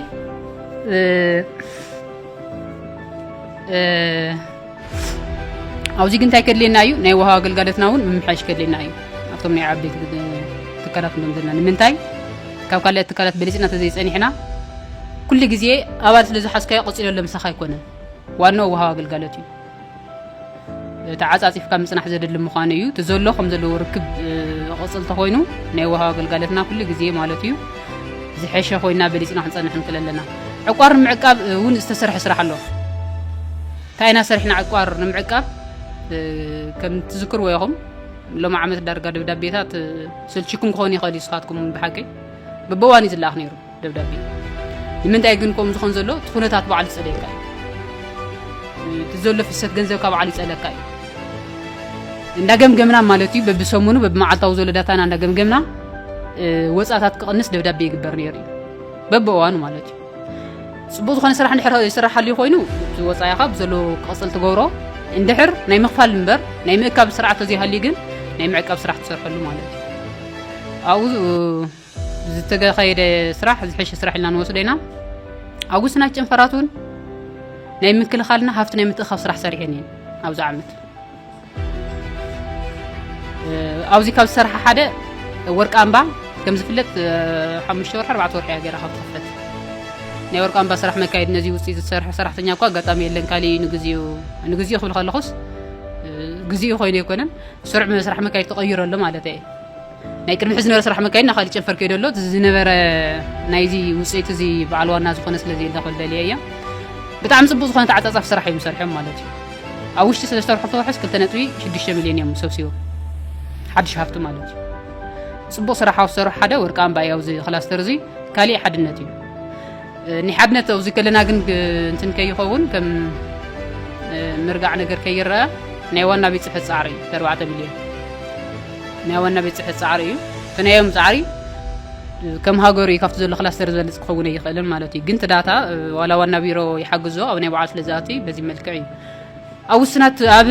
ኣብዚ ግን እንታይ ከድልየና እዩ ናይ ውሃ ኣገልጋሎትና እውን ምምሓሽ ከድልየና እዩ ኣብቶም ናይ ዓበይቲ ትካላት ንብሎም ዘለና ንምንታይ ካብ ካልኦት ትካላት በሊፅና ተዘይፀኒሕና ኩሉ ግዜ ኣባል ስለ ዝሓዝካዮ ቀፂሎ ለምሳኻ ኣይኮነን ዋናኡ ውሃ ኣገልጋሎት እዩ ተዓፃፂፍካ ምፅናሕ ዘድሊ ምዃኑ እዩ እቲ ዘሎ ከም ዘለዎ ርክብ ቕፅል ተኮይኑ ናይ ውሃ ኣገልጋሎትና ኩሉ ግዜ ማለት እዩ ዝሐሸ ኮይና በሊፅና ክንፀንሕ ንክእል ኣለና። ዕቋር ንምዕቃብ እውን ዝተሰርሐ ስራሕ ኣሎ። እንታይ ኢና ሰሪሕና ዕቋር ንምዕቃብ ከም ትዝክርዎ ኢኹም ሎሚ ዓመት ዳርጋ ደብዳቤታት ስልችኩም ክኾን ይኽእል እዩ ስኻትኩም ብሓቂ ብበዋን እዩ ዝለኣኽ ነይሩ ደብዳቤ ንምንታይ ግን ከምኡ ዝኾን ዘሎ እቲ ኩነታት ባዕሉ ዝፀለየካ እዩ እቲ ዘሎ ፍሰት ገንዘብ ካብ ባዕሉ ይፀለካ እዩ እንዳ ገምገምና ማለት እዩ በብሰሙኑ በብመዓልታዊ ዘሎ ዳታና እንዳ ገምገምና ወፃታት ክቕንስ ደብዳቤ ይግበር ነይሩ እዩ በብእዋኑ ማለት እዩ ፅቡቅ ዝኾነ ስራሕ እንድሕር ይስራሕ ኣልዩ ኮይኑ እቲ ወፃኢኻ ብዘሎ ክቕፅል ትገብሮ እንድሕር ናይ ምኽፋል እምበር ናይ ምእካብ ስርዓት ተዘይሃልዩ ግን ናይ ምዕቃብ ስራሕ ትሰርሐሉ ማለት እዩ ኣብኡ ዝተካየደ ስራሕ ዝሐሸ ስራሕ ኢልና ንወስዶ ኢና ኣብ ውስናት ጨንፈራት እውን ናይ ምክልኻልና ሃፍቲ ናይ ምትእኻብ ስራሕ ሰሪሐን እየን ኣብዚ ዓመት ኣብዚ ካብ ዝሰርሐ ሓደ ወርቂ ኣምባ ከም ዝፍለጥ ሓሙሽተ ወርሒ ኣርባዕተ ወርሒ እያ ገይራ ካብ ትኽፈት ናይ ወርቂ ኣምባ ስራሕ መካየድ ነዚ ውፅኢት ዝሰርሐ ሰራሕተኛ እኳ ኣጋጣሚ የለን ካሊእ እዩ ንግዚኡ ንግዚኡ ክብል ከለኹስ ግዚኡ ኮይኑ ኣይኮነን ስሩዕ ስራሕ መካየድ ተቐይሮ ኣሎ ማለት እየ ናይ ቅድሚ ሕዚ ዝነበረ ስራሕ መካይድ ናብ ካሊእ ጨንፈር ከይዶ ኣሎ እቲ ዝነበረ ናይዚ ውፅኢት እዚ በዓል ዋና ዝኾነ ስለ ዘየለ ክብል ደልየ እየ ብጣዕሚ ፅቡቅ ዝኾነ ተዓፃፃፊ ስራሕ እዮም ሰሪሖም ማለት እዩ ኣብ ውሽጢ ሰለስተ ወርሒ ክተውሕስ ክልተ ነጥቢ ሽዱሽተ ሚሊዮን እዮም ሰብሲቦም ሓድሽ ሃፍቲ ማለት እዩ ፅቡቅ ስራሕ ኣብ ዝሰርሑ ሓደ ወርቂ ኣምባ እዩ ኣብዚ ክላስተር እዚ ካሊእ ሓድነት እዩ ናይ ሓድነት ኣብዙይ ከለና ግን እንትን ከይኸውን ከም ምርጋዕ ነገር ከይረኣ ናይ ዋና ቤት ፅሕፈት ፃዕሪ እዩ ተርባዕተ ሚልዮን ናይ ዋና ቤት ፅሕፈት ፃዕሪ እዩ ፍናዮም ፃዕሪ ከም ሃገሩ እዩ ካብቲ ዘሎ ክላስተር ዝበልፅ ክኸውን ኣይኽእልን ማለት እዩ ግን ትዳታ ዋላ ዋና ቢሮ ይሓግዞ ኣብ ናይ በዓል ስለዝኣቲ በዚ መልክዕ እዩ ኣብ ውስናት ኣብ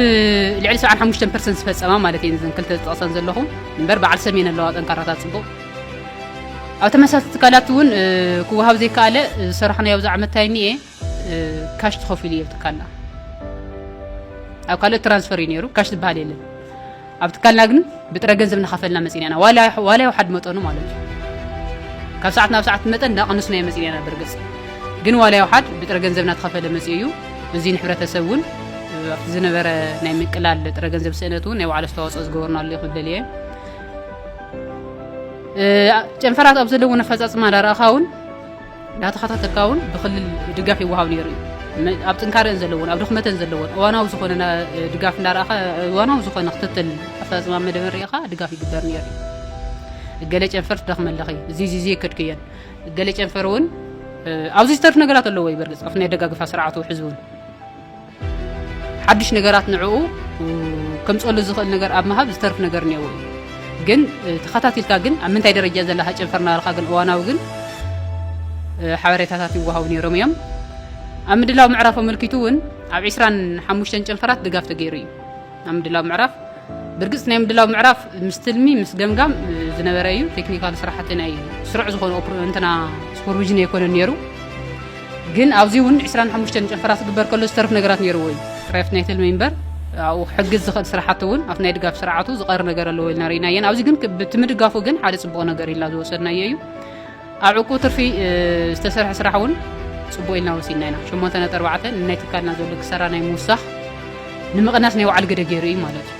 ልዕሊ 75 ፐርሰንት ዝፈጸማ ማለት እየን እዘን ክልተ ዝጠቕሰን ዘለኹ እምበር በዓል ሰሜን ኣለዋ ጠንካራታት ጽቡቕ ኣብ ተመሳሳሊ ትካላት እውን ክወሃብ ዘይከኣለ ዝሰራሕናዮ ኣብዚ ዓመት ታይም እየ ካሽ ተኸፊሉ እየ ትካልና ኣብ ካልኦት ትራንስፈር እዩ ነይሩ ካሽ ዝበሃል የለን ኣብ ትካልና ግን ብጥረ ገንዘብ እናኸፈልና መፂና ኢና ዋላ ይውሓድ መጠኑ ማለት እዩ ካብ ሰዓት ናብ ሰዓት መጠን እናቐነስናዮ መፂና ኢና በርግፅ ግን ዋላ ይውሓድ ብጥረ ገንዘብ እናተኸፈለ መፂኡ እዩ እዚ ንሕብረተሰብ እውን ኣብቲ ዝነበረ ናይ ምቅላል ጥረ ገንዘብ ስእነት እውን ናይ ባዕሉ ኣስተዋፅኦ ዝገበርናሉ እዩ ክብል እየ ጨንፈራት ኣብ ዘለውን ኣፈፃፅማ ዳረኣኻ እውን እናተኸታተልካውን ብክልል ድጋፍ ይወሃብ ነይሩ እዩ። ኣብ ጥንካረን ዘለዎን ኣብ ድኽመተን ዘለዎን እዋናዊ ዝኾነ ድጋፍ እንዳረኣኻ እዋናዊ ዝኾነ ክትትል ኣፈፃፅማ መደበር ርኢኻ ድጋፍ ይግበር ነይሩ እዩ ገለ ጨንፈር ትደኽመ ኣለኺ እዚ እዚ እዚ የከድክየን ገለ ጨንፈር እውን ኣብዚ ዝተርፍ ነገራት ኣለዎ እዩ በርግፅ ኣብቲ ናይ ደጋግፋ ስርዓቱ ሕዚ እውን ሓድሽ ነገራት ንዕኡ ከምፀሉ ዝኽእል ነገር ኣብ ምሃብ ዝተርፍ ነገር እኒአዎ እዩ ግን ተኸታቲልካ ግን ኣብ ምንታይ ደረጃ ዘላ ሃጨንፈር ናበልካ ግን እዋናዊ ግን ሓበሬታታት ይወሃቡ ነይሮም እዮም ኣብ ምድላው ምዕራፍ ኣመልኪቱ እውን ኣብ 25 ጨንፈራት ድጋፍ ተገይሩ እዩ ኣብ ምድላው ምዕራፍ ብርግጽ ናይ ምድላው ምዕራፍ ምስ ትልሚ ምስ ገምጋም ዝነበረ እዩ ቴክኒካል ስራሕቲ ናይ ስሩዕ ዝኾነ እንትና ሱፐርቪዥን ኣይኮነን ነይሩ ግን ኣብዚ እውን 25 ጨፈራ ክግበር ከሎ ዝተርፍ ነገራት ነይርዎ እዩ ራይፍት ናይ ትልሚ እምበር ኣብኡ ሕግዝ ዝኽእል ስራሕቲ እውን ኣብቲ ናይ ድጋፍ ስርዓቱ ዝቐር ነገር ኣለዎ ኢልና ርኢናየን ኣብዚ ግን ብቲ ምድጋፉ ግን ሓደ ፅቡቕ ነገር ኢልና ዝወሰድናዮ እዩ ኣብ ዕቁብ ትርፊ ዝተሰርሐ ስራሕ እውን ፅቡቅ ኢልና ወሲድና ኢና። ሸሞንተ ነጥቢ ኣርባዕተ ንናይ ትካልና ዘሎ ክሰራ ናይ ምውሳኽ ንምቕናስ ናይ ባዕሉ ግደ ገይሩ እዩ ማለት እዩ።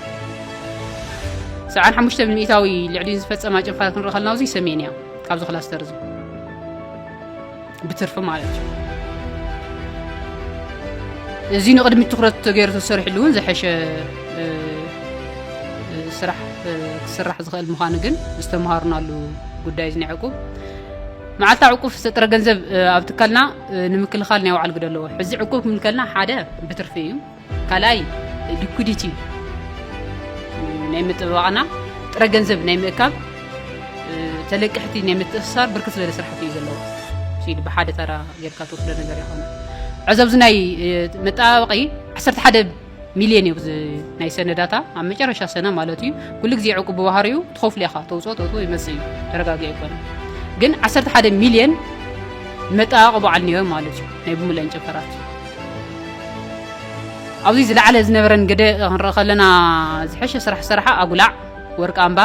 ሰብዓን ሓሙሽተ ብሚእታዊ ልዕሊ ዝፈፀማ ጭንፋት ክንርኢ ከለና እዚ ሰሜን እያ ካብዚ ክላስተር እዚ ብትርፊ ማለት እዩ። እዚ ንቅድሚት ትኩረት ተገይሩ ተሰሪሕሉ እውን ዝሐሸ ስራሕ ክስራሕ ዝኽእል ምዃኑ ግን ዝተምሃርናሉ ጉዳይ እዚ ናይ ዕቁብ መዓልታ ዕቁብ ፍሰት ጥረ ገንዘብ ኣብ ትካልና ንምክልኻል ናይ ባዕሉ ግደ ኣለዎ ሕዚ ዕቁብ ክብል ከልና ሓደ ብትርፊ እዩ ካልኣይ ሊኩዲቲ ናይ ምጥበባቕና ጥረ ገንዘብ ናይ ምእካብ ተለቅሕቲ ናይ ምትእስሳር ብርክት ዝበለ ስራሕቲ እዩ ዘለዎ ሲዲ ብሓደ ተራ ጌርካ ትወስዶ ነገር ይኾነ ዕዚ ኣብዚ ናይ መጠባበቒ 11 ሚልዮን እዩ እዚ ናይ ሰነዳታ ኣብ መጨረሻ ሰነ ማለት እዩ ኩሉ ግዜ ዕቁብ ብባህሪኡ ትኸፍሉ ኢኻ ተውፅኦ ተውፅኦ ይመፅእ እዩ ተረጋጊ ኣይኮነ ግን 11 ሚልዮን መጣበቂ በዓል ነዮ ማለት እዩ ናይ ብምለን ጨፈራት ኣብዚ ዝለዓለ ዝነበረን ግደ ክንርኢ ከለና ዝሐሸ ስራሕ ስራሓ ኣጉላዕ ወርቂ ኣምባ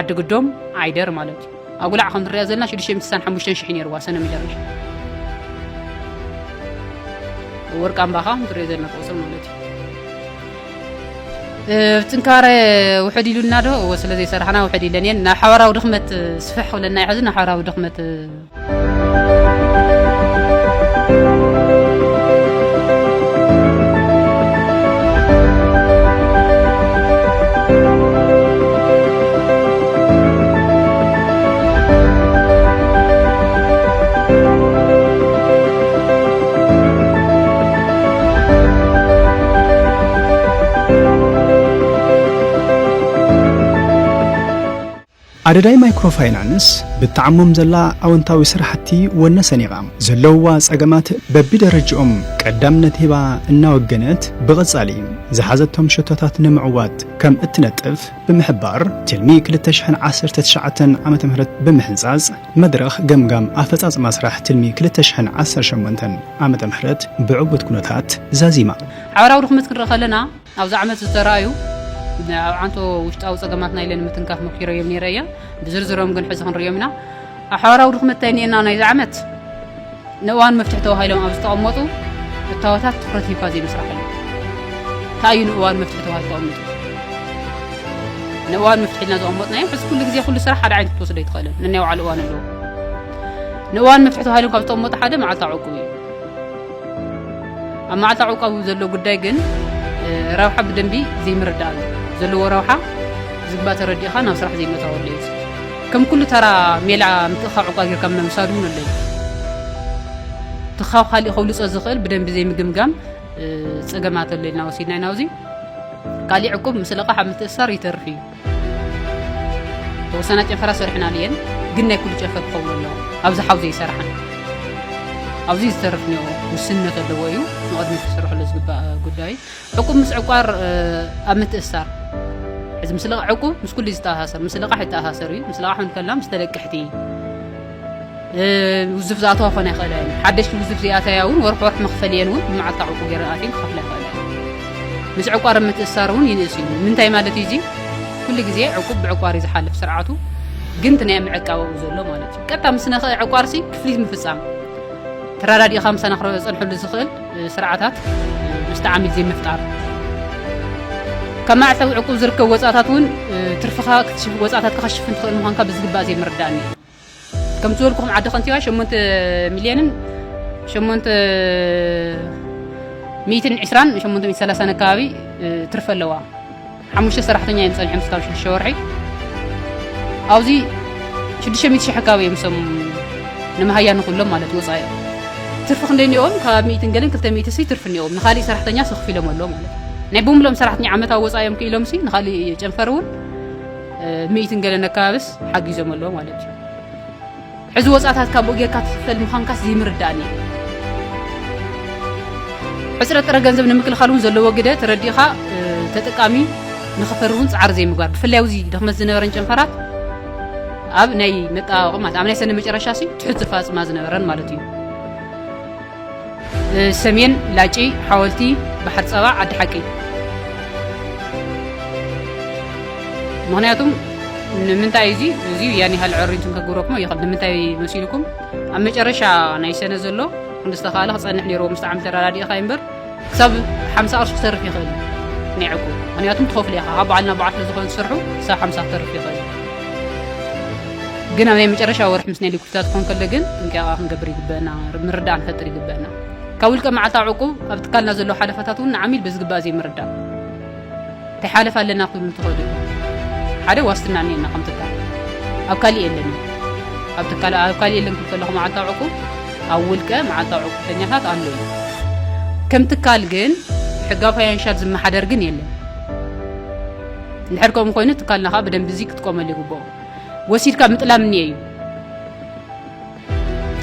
ዓዲ ግዶም ዓይደር ማለት እዩ ኣጉላዕ ከም ንሪኣ ዘለና ሽዱሽተ ሚእቲ ስሳን ሓሙሽተን ሽሕ ነይርዋ ሰነ መጀመርያ ወርቃምባ ከዓ ንሪኦ ዘለና ቁፅሪ ማለት እዩ ጥንካረ ውሕድ ኢሉና ዶ እወ ስለ ዘይሰራሕና ውሕድ ኢለን እየን ናብ ሓባራዊ ድኽመት ስፍሕ ክብለና እዩ ሕዚ ናብ ሓባራዊ ድኽመት ኣደዳይ ማይክሮ ፋይናንስ ብተዓሞም ዘላ ኣወንታዊ ስራሕቲ ወነ ሰኒቓ ዘለውዋ ጸገማት በቢደረጅኦም ቀዳምነት ሂባ እናወገነት ብቐጻሊ ዝሓዘቶም ሸቶታት ንምዕዋት ከም እትነጥፍ ብምሕባር ትልሚ ክልተ ሽሕን ዓሰርተ ትሽዓተን ዓመተ ምህረት ብምሕንጻጽ መድረኽ ገምጋም ኣፈጻጽማ ስራሕ ትልሚ ክልተ ሽሕን ዓሰርተ ሸሞንተን ዓመተ ምህረት ብዕውት ኩነታት ዛዚማ። ሓባራዊ ድኽመት ክንርኢ ከለና ኣብዚ ዓመት ዝተራእዩ ኣብ ዓንቶ ውሽጣዊ ጸገማትና ኢለ ንምትንካፍ ሞኪረዮም ነይረ እየ። ብዝርዝሮም ግን ሕዚ ክንርእዮም ኢና። ኣብ ሓባራዊ ድኽመት እንታይ እኒኤና ናይዚ ዓመት ንእዋን መፍትሒ ተባሂሎም ኣብ ዝተቐመጡ እታወታት ትኹረት ሂብካ ዘይምስራሕሉ እንታይ እዩ ንእዋን መፍትሒ ተባሂሉ ተቐሚጡ ንእዋን መፍትሒ ኢልና ዘቐመጥናዮ ሕዚ ኩሉ ግዜ ኩሉ ስራሕ ሓደ ዓይነት ክትወስዶ ኣይትኽእልን ነናይ ባዕሉ እዋን ኣለዎ ንእዋን መፍትሒ ተባሂሎም ካብ ዝተቐመጡ ሓደ መዓልታ ዕቁብ እዩ ኣብ መዓልታ ዕቁብ ዘሎ ጉዳይ ግን ረብሓ ብደንቢ ዘይምርዳእ እዩ ዘለዎ ረብሓ ዝግባ ተረዲእኻ ናብ ስራሕ ዘይመታወሉ እዩ ከም ኩሉ ተራ ሜላ ምትእኻዕ እኳ ጌርካ ምውሳድ እውን ኣሎ እዩ። እቲ ካብ ካሊእ ከብልፆ ዝኽእል ብደንቢ ዘይምግምጋም ፀገማት ኣሎ ኢልና ወሲድና ኢና። እዚ ካሊእ ዕቁብ ምስ ለቓሕ ኣብ ምትእስሳር ይተርፍ እዩ። ተወሰና ጨንፈራ ሰሪሕናሉ እየን፣ ግን ናይ ኩሉ ጨንፈር ክኸውን ኣለዎ። ኣብዚ ሓው ዘይሰርሓን ኣብዚ ዝተርፍ ውስንነት ኣለዎ እዩ ንቕድሚት ክስርሐሉ ዝግባእ ጉዳይ ዕቁብ ምስ ዕቋር ኣብ ምትእስሳር እዚ ምስ ልቓሕ ዕቁብ ምስ ኩሉ ዝተኣሳሰር ምስ ልቓሕ ይተኣሳሰር እዩ ምስ ልቓሕ እውን ከላ ምስ ተለቅሕቲ ውዝፍ ዝኣተዋ ክኾና ይኽእላ እየን ሓደሽቲ ውዝፍ ዚኣተያ እውን ወርሒ ወርሒ መኽፈል እየን እውን ብመዓልታ ዕቁብ ገይረን ኣትየን ክኸፍላ ይኽእላ እየን ምስ ዕቋር ኣብ ምትእስሳር እውን ይንእስ እዩ ምንታይ ማለት እዩ እዚ ኩሉ ግዜ ዕቁብ ብዕቋር እዩ ዝሓልፍ ስርዓቱ ግን እቲ ናይ ምዕቃበኡ ዘሎ ማለት እዩ ቀጥታ ምስ ነኽእ ዕቋርሲ ክፍሊት ምፍፃም ተራዳዲእኻ ምሳና ክፀንሐሉ ዝኽእል ስርዓታት ምስቲ ዓሚል ዘይምፍጣር ካብ መዕጸዊ ዕቁብ ዝርከብ ወጻእታት እውን ትርፍኻ ወጻእታትካ ከሽፍን ትኽእል ምዃንካ ብዝግባእ ዘይምርዳእኒ ከምቲ ዝበልኩኹም ዓዲ ከንቲባ 8 ሚልዮንን 8 ሚእትን ዕስራን 830 ኣካባቢ ትርፊ ኣለዋ ሓሙሽተ ሰራሕተኛ እዮም ጸኒሖም ስካብ ሽዱሽተ ወርሒ ኣብዚ ሽዱሽተ ሚእቲ ሽሕ ኣካባቢ እዮም ሰም ንመሃያ ንኹሎም ማለት ወጻኢ ትርፊ ክንደይ እኒኦም ካብ ሚእትን ገለን ክልተ ሚእቲ ሲ ትርፊ እኒኦም ንካሊእ ሰራሕተኛ ሰክፊሎም ኣሎ ማለት ናይ ብምሎም ሰራሕተኛ ዓመታዊ ወጻኢ እዮም ክኢሎም ሲ ንካሊእ ጨንፈር እውን ሚእትን ገለን ኣካባቢስ ሓጊዞም ኣሎ ማለት እዩ ሕዚ ወጻታት ካቡኡ ጌርካ ትኽፈል ምዃንካስ ዝይምርዳእን እየ። ሕጽረት ጥረ ገንዘብ ንምክልኻል እውን ዘለዎ ግደ ተረዲእኻ ተጠቃሚ ንኽፈሪ እውን ጻዕሪ ዘይምግባር ብፍላይ ኣብዚ ድኽመት ዝነበረን ጨንፈራት ኣብ ናይ መጠባበቒ ማለት ኣብ ናይ ሰነ መጨረሻሲ ትሑት ዝፋጽማ ዝነበረን ማለት እዩ። ሰሜን ላጪ ሓወልቲ ባሕር ጸባ ዓዲ ሓቂ ምክንያቱም ንምንታይ እዚ እዚ ያን ያህል ዕሪንቱም ከግብረኩም ይኽእል ንምንታይ መሲልኩም ኣብ መጨረሻ ናይ ሰነ ዘሎ ክንዲ ዝተኻለ ክፀንሕ ነይርዎ ምስ ዓም ተረዳዲእኻ እምበር ክሳብ ሓምሳ ቅርሺ ክተርፍ ይኽእል እዩ ናይ ዕቁብ ምክንያቱም ትኸፍሉ ኢኻ ካብ በዓል ናብ በዓል ስለዝኾነ ዝሰርሑ ክሳብ ሓምሳ ክተርፍ ይኽእል እዩ ግን ኣብ ናይ መጨረሻ ወርሒ ምስ ናይ ሊኩድታት ክኾን ከሎ ግን ጥንቃቐ ክንገብር ይግበአና ምርዳእ ንፈጥር ይግበአና ካብ ውልቀ መዓልታዊ ዕቁብ ኣብ ትካልና ዘለዉ ሓለፋታት እውን ንዓሚል ብዝግባእ ዘይምርዳእ ከይሓለፋ ኣለና ክብሉ እንተኸእሉ ኢኹም ሓደ ዋስትና እኒኤና ከም ትካል ኣብ ካሊእ የለን እዩ ኣብ ትካል ኣብ ካሊእ የለን ክብል ከለኹ መዓልታዊ ዕቁብ ኣብ ውልቀ መዓልታዊ ዕቁብተኛታት ኣሎ እዩ ከም ትካል ግን ሕጋዊ ፋይናንሻል ዝመሓደር ግን የለን እንድሕር ከምኡ ኮይኑ ትካልና ከዓ ብደንቢ እዚ ክትቆመሉ ይግብኦ ወሲድካ ምጥላም እኒኤ እዩ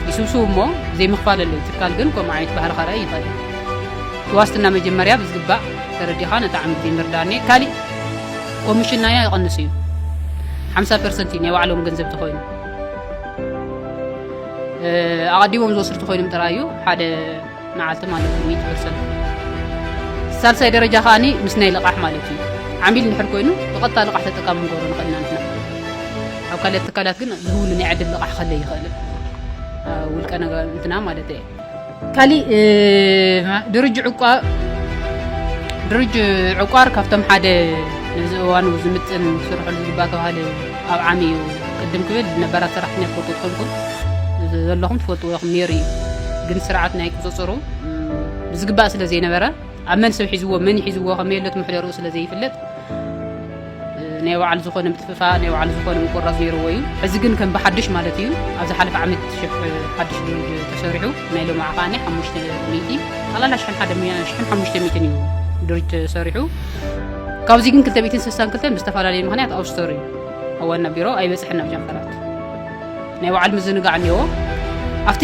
ይስብስቡ እሞ ዘይምክፋለለይ ትካል ግን ከምኡ ዓይነት ባህሪ ከርኣይ ይኽእል እዩ። እቲ ዋስትና መጀመርያ ብዝግባእ ተረዲኻ ነቲ ዓሚ ግዜ ምርዳእኔ ካሊእ ኮሚሽን ናያ ይቕንስ እዩ ሓምሳ ፐርሰንት እዩ ናይ ባዕሎም ገንዘብ ተኾይኑ ኣቐዲሞም ዝወስዱ ተኾይኖም ጥራይ እዩ ሓደ መዓልቲ ማለት እዩ ሚእቲ ፐርሰንት ሳልሳይ ደረጃ ከዓኒ ምስ ናይ ልቓሕ ማለት እዩ ዓሚል እንድሕር ኮይኑ ብቐጥታ ልቓሕ ተጠቃሚ ንገብሮ ንኽእል ኢና ንሕና ኣብ ካልኦት ትካላት ግን ዝህውሉ ናይ ዕድል ልቓሕ ከለ ይኽእል ውልቀ ነገር እንትና ማለት እየ ካሊእ ድርጅ ዕቋ ድርጅ ዕቋር ካብቶም ሓደ ነዚ እዋኑ ዝምጥን ስርሑ ዝግባ ተባሃለ ኣብ ዓሚ እዩ ቅድም ክብል ዝነበራ ሰራሕተኛ ትፈልጡ ትኾንኩም ዘለኹም ትፈልጥዎ ኢኹም ነይሩ እዩ ግን ስርዓት ናይ ቁፅፅሩ ብዝግባእ ስለ ዘይነበረ ኣብ መን ሰብ ሒዝዎ መን ይሒዝዎ ከመይ ለት ምሕደርኡ ስለ ዘይፍለጥ ናይ ባዕሉ ዝኾነ ምትፍፋ ናይ ባዕሉ ዝኾነ ምቁራፅ ነይርዎ እዩ ሕዚ ግን ከም ብሓድሽ ማለት እዩ ኣብ ዝሓለፈ ዓመት ሽሕ ሓድሽ ድልድ ተሰሪሑ ናይ ሎሚ ዓቃኒ ሓሙሽተ ሚእቲ ጠቕላላ ሽሕን ሓደ ሽሕን ሓሙሽተ ሚእትን እዩ ድርጅት ተሰሪሑ ካብዚ ግን 262 ብዝተፈላለየ ምክንያት ኣውስተሩ እዩ ኣብ ዋና ቢሮ ኣይበፅሐን ናብ ጨንፈራት ናይ በዓል ምዝንጋዕ እኒዎ ኣብቲ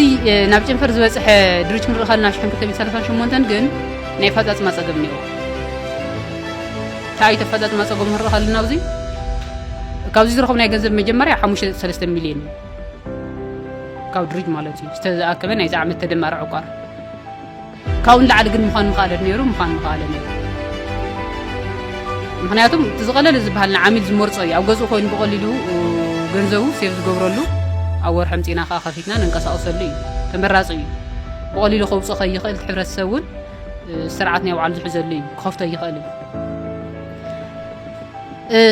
ናብ ጨንፈር ዝበፅሐ ድርጅ ክንርኢ ከለና ሽሕን 238 ግን ናይ ኣፈፃፅማ ፀገም እኒዎ እንታይ እዩ ተፈፃፅማ ፀገም ክንርኢ ከለና ኣብዚ ካብዚ ዝረኸብናዮ ገንዘብ መጀመርያ 53 ሚልዮን እዩ ካብ ድርጅ ማለት እዩ ዝተኣከበ ናይዚ ዓመት ተደማሪ ዕቋር ካብኡ ንላዕሊ ግን ምዃን ምኸኣለ ነይሩ ምዃን ምኸኣለ ነይሩ ምክንያቱ እቲ ዝቐለለ ዝበሃል ንዓሚል ዝመርፆ እዩ ኣብ ገዝኡ ኮይኑ ብቐሊሉ ገንዘቡ ሴፍ ዝገብረሉ ኣብ ወርሒ ምፂና ከዓ ከፊትና ንንቀሳቀሰሉ እዩ ተመራፂ እዩ ብቐሊሉ ከውፅኦ ከይኽእል እቲ ሕብረተሰብ እውን ስርዓት ናይ ባዕሉ ዝሕዘሉ እዩ ክኸፍቶ ይኽእል እዩ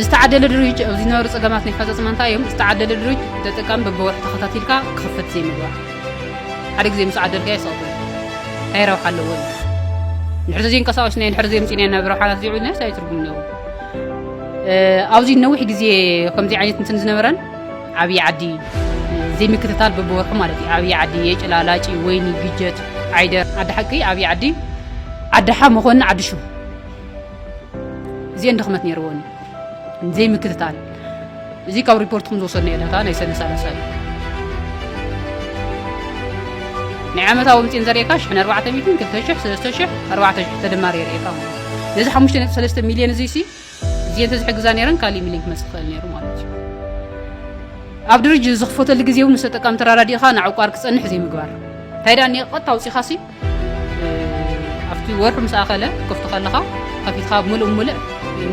ዝተዓደለ ድርጅ ኣብዚ ዝነበሩ ፀገማት ናይ ፈፀፅማ እንታይ እዮም ዝተዓደለ ድርጅ ተጠቃሚ በብወርሒ ተኸታቲልካ ክኽፈት ዘይምግባር ሓደ ግዜ ምስ ዓደልካ ይሰቑ እንታይ ረብሓ ኣለዎ እዩ ንሕሪ ዘይንቀሳቀስ ናይ ንሕሪ ዘይምፅና ኢና ብረብሓናት ዘይብልና ሳይ ትርጉም ኣለዎ ኣብዚ ነዊሕ ግዜ ከምዚ ዓይነት እንትን ዝነበረን ዓብዪ ዓዲ ዘይምክትታል በብወርሑ ማለት እዩ ዓብዪ ዓዲ የጭላ ላጪ ወይኒ ግጀት ዓይደር ዓዲ ሓቂ ዓብዪ ዓዲ ዓዲ ሓ መኾኒ ዓዲ ሽም እዚኤን ድኽመት ነይርዎን እዩ ዘይምክትታል እዚ ካብ ሪፖርትኩም ዝወሰድናዮ ዳታ ናይ ሰነ ሳለሳ እዩ ናይ ዓመታዊ ውፅኢን ዘርእካ ሽሕን ኣርባዕተ ሚትን ክልተ ሽሕ ሰለስተ ሽሕ ኣርባዕተ ሽሕ ተደማሪ የርእካ ማለት እዩ ነዚ ሓሙሽተ ነጥቢ ሰለስተ ሚልዮን እዙይ ሲ እዚኤን ተዝሕግዛ ነይረን ካሊእ ሚልዮን ክመፅእ ክኽእል ነይሩ ማለት እዩ ኣብ ድርጅት ዝኽፈተሉ ግዜ እውን ምስ ተጠቃሚ ተራዳዲእኻ ንዕቋር ክፀንሕ ዘይምግባር እንታይ ደኣ እኒኦ ቀጥታ ውፂኻ ሲ ኣብቲ ወርሒ ምስ ኣኸለ ክፍቱ ከለኻ ከፊትካ ምሉእ ምሉእ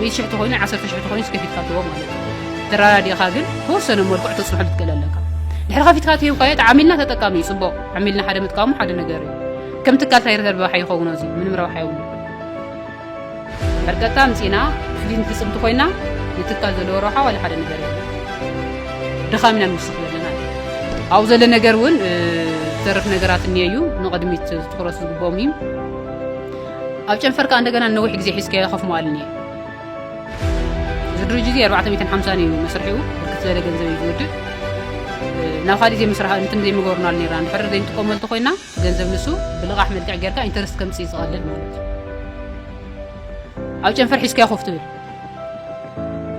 ሚእቲ ሽሕ ተኾይኑ ዓሰርተ ሽሕ ተኾይኑ ከፊትካ ትቦ ማለት እዩ ተራዳዲኻ ግን ተወሰነ መልክዑ ተፅንሖ ልትክእል ኣለካ ድሕሪ ከፊትካ ትሂብካዮ እቲ ዓሚልና ተጠቃሚ እዩ ፅቡቅ ዓሚልና ሓደ ምጥቃሙ ሓደ ነገር እዩ ከም ትካል እንታይ ረብሓ ይኸውኖ እዚ ምንም ረብሓ የብሉ ሕርቀታ ኣምጺእና ፍሊንት ትጽብቲ ኮይና ንትካል ዘለዎ ረብሓ ዋላ ሓደ ነገር የለን ድኻም ኢና ንውስኽ ዘለና ኣብኡ ዘሎ ነገር እውን ዝተርፍ ነገራት እኒየ እዩ ንቕድሚት ትኩረት ዝግብኦም እዩ ኣብ ጨንፈር ከዓ እንደገና ንነዊሕ ግዜ ሒዝካዮ ከፍ መዋል እኒየ እዚ ድርጅት እዚ 450 እዩ መስርሒኡ ብርክት ዝበለ ገንዘብ እዩ ዝውድእ ናብ ካሊእ ዘይምስራሕ እንትን ዘይምገርናሉ ነርና እንድሕር ዘይንጥቀመሉ እንተኮይና ገንዘብ ንሱ ብልቓሕ መልክዕ ጌርካ ኢንተርስት ከምፅእ ዝቐልል ማለት እዩ ኣብ ጨንፈር ሒዝካዮ ኮፍ ትብል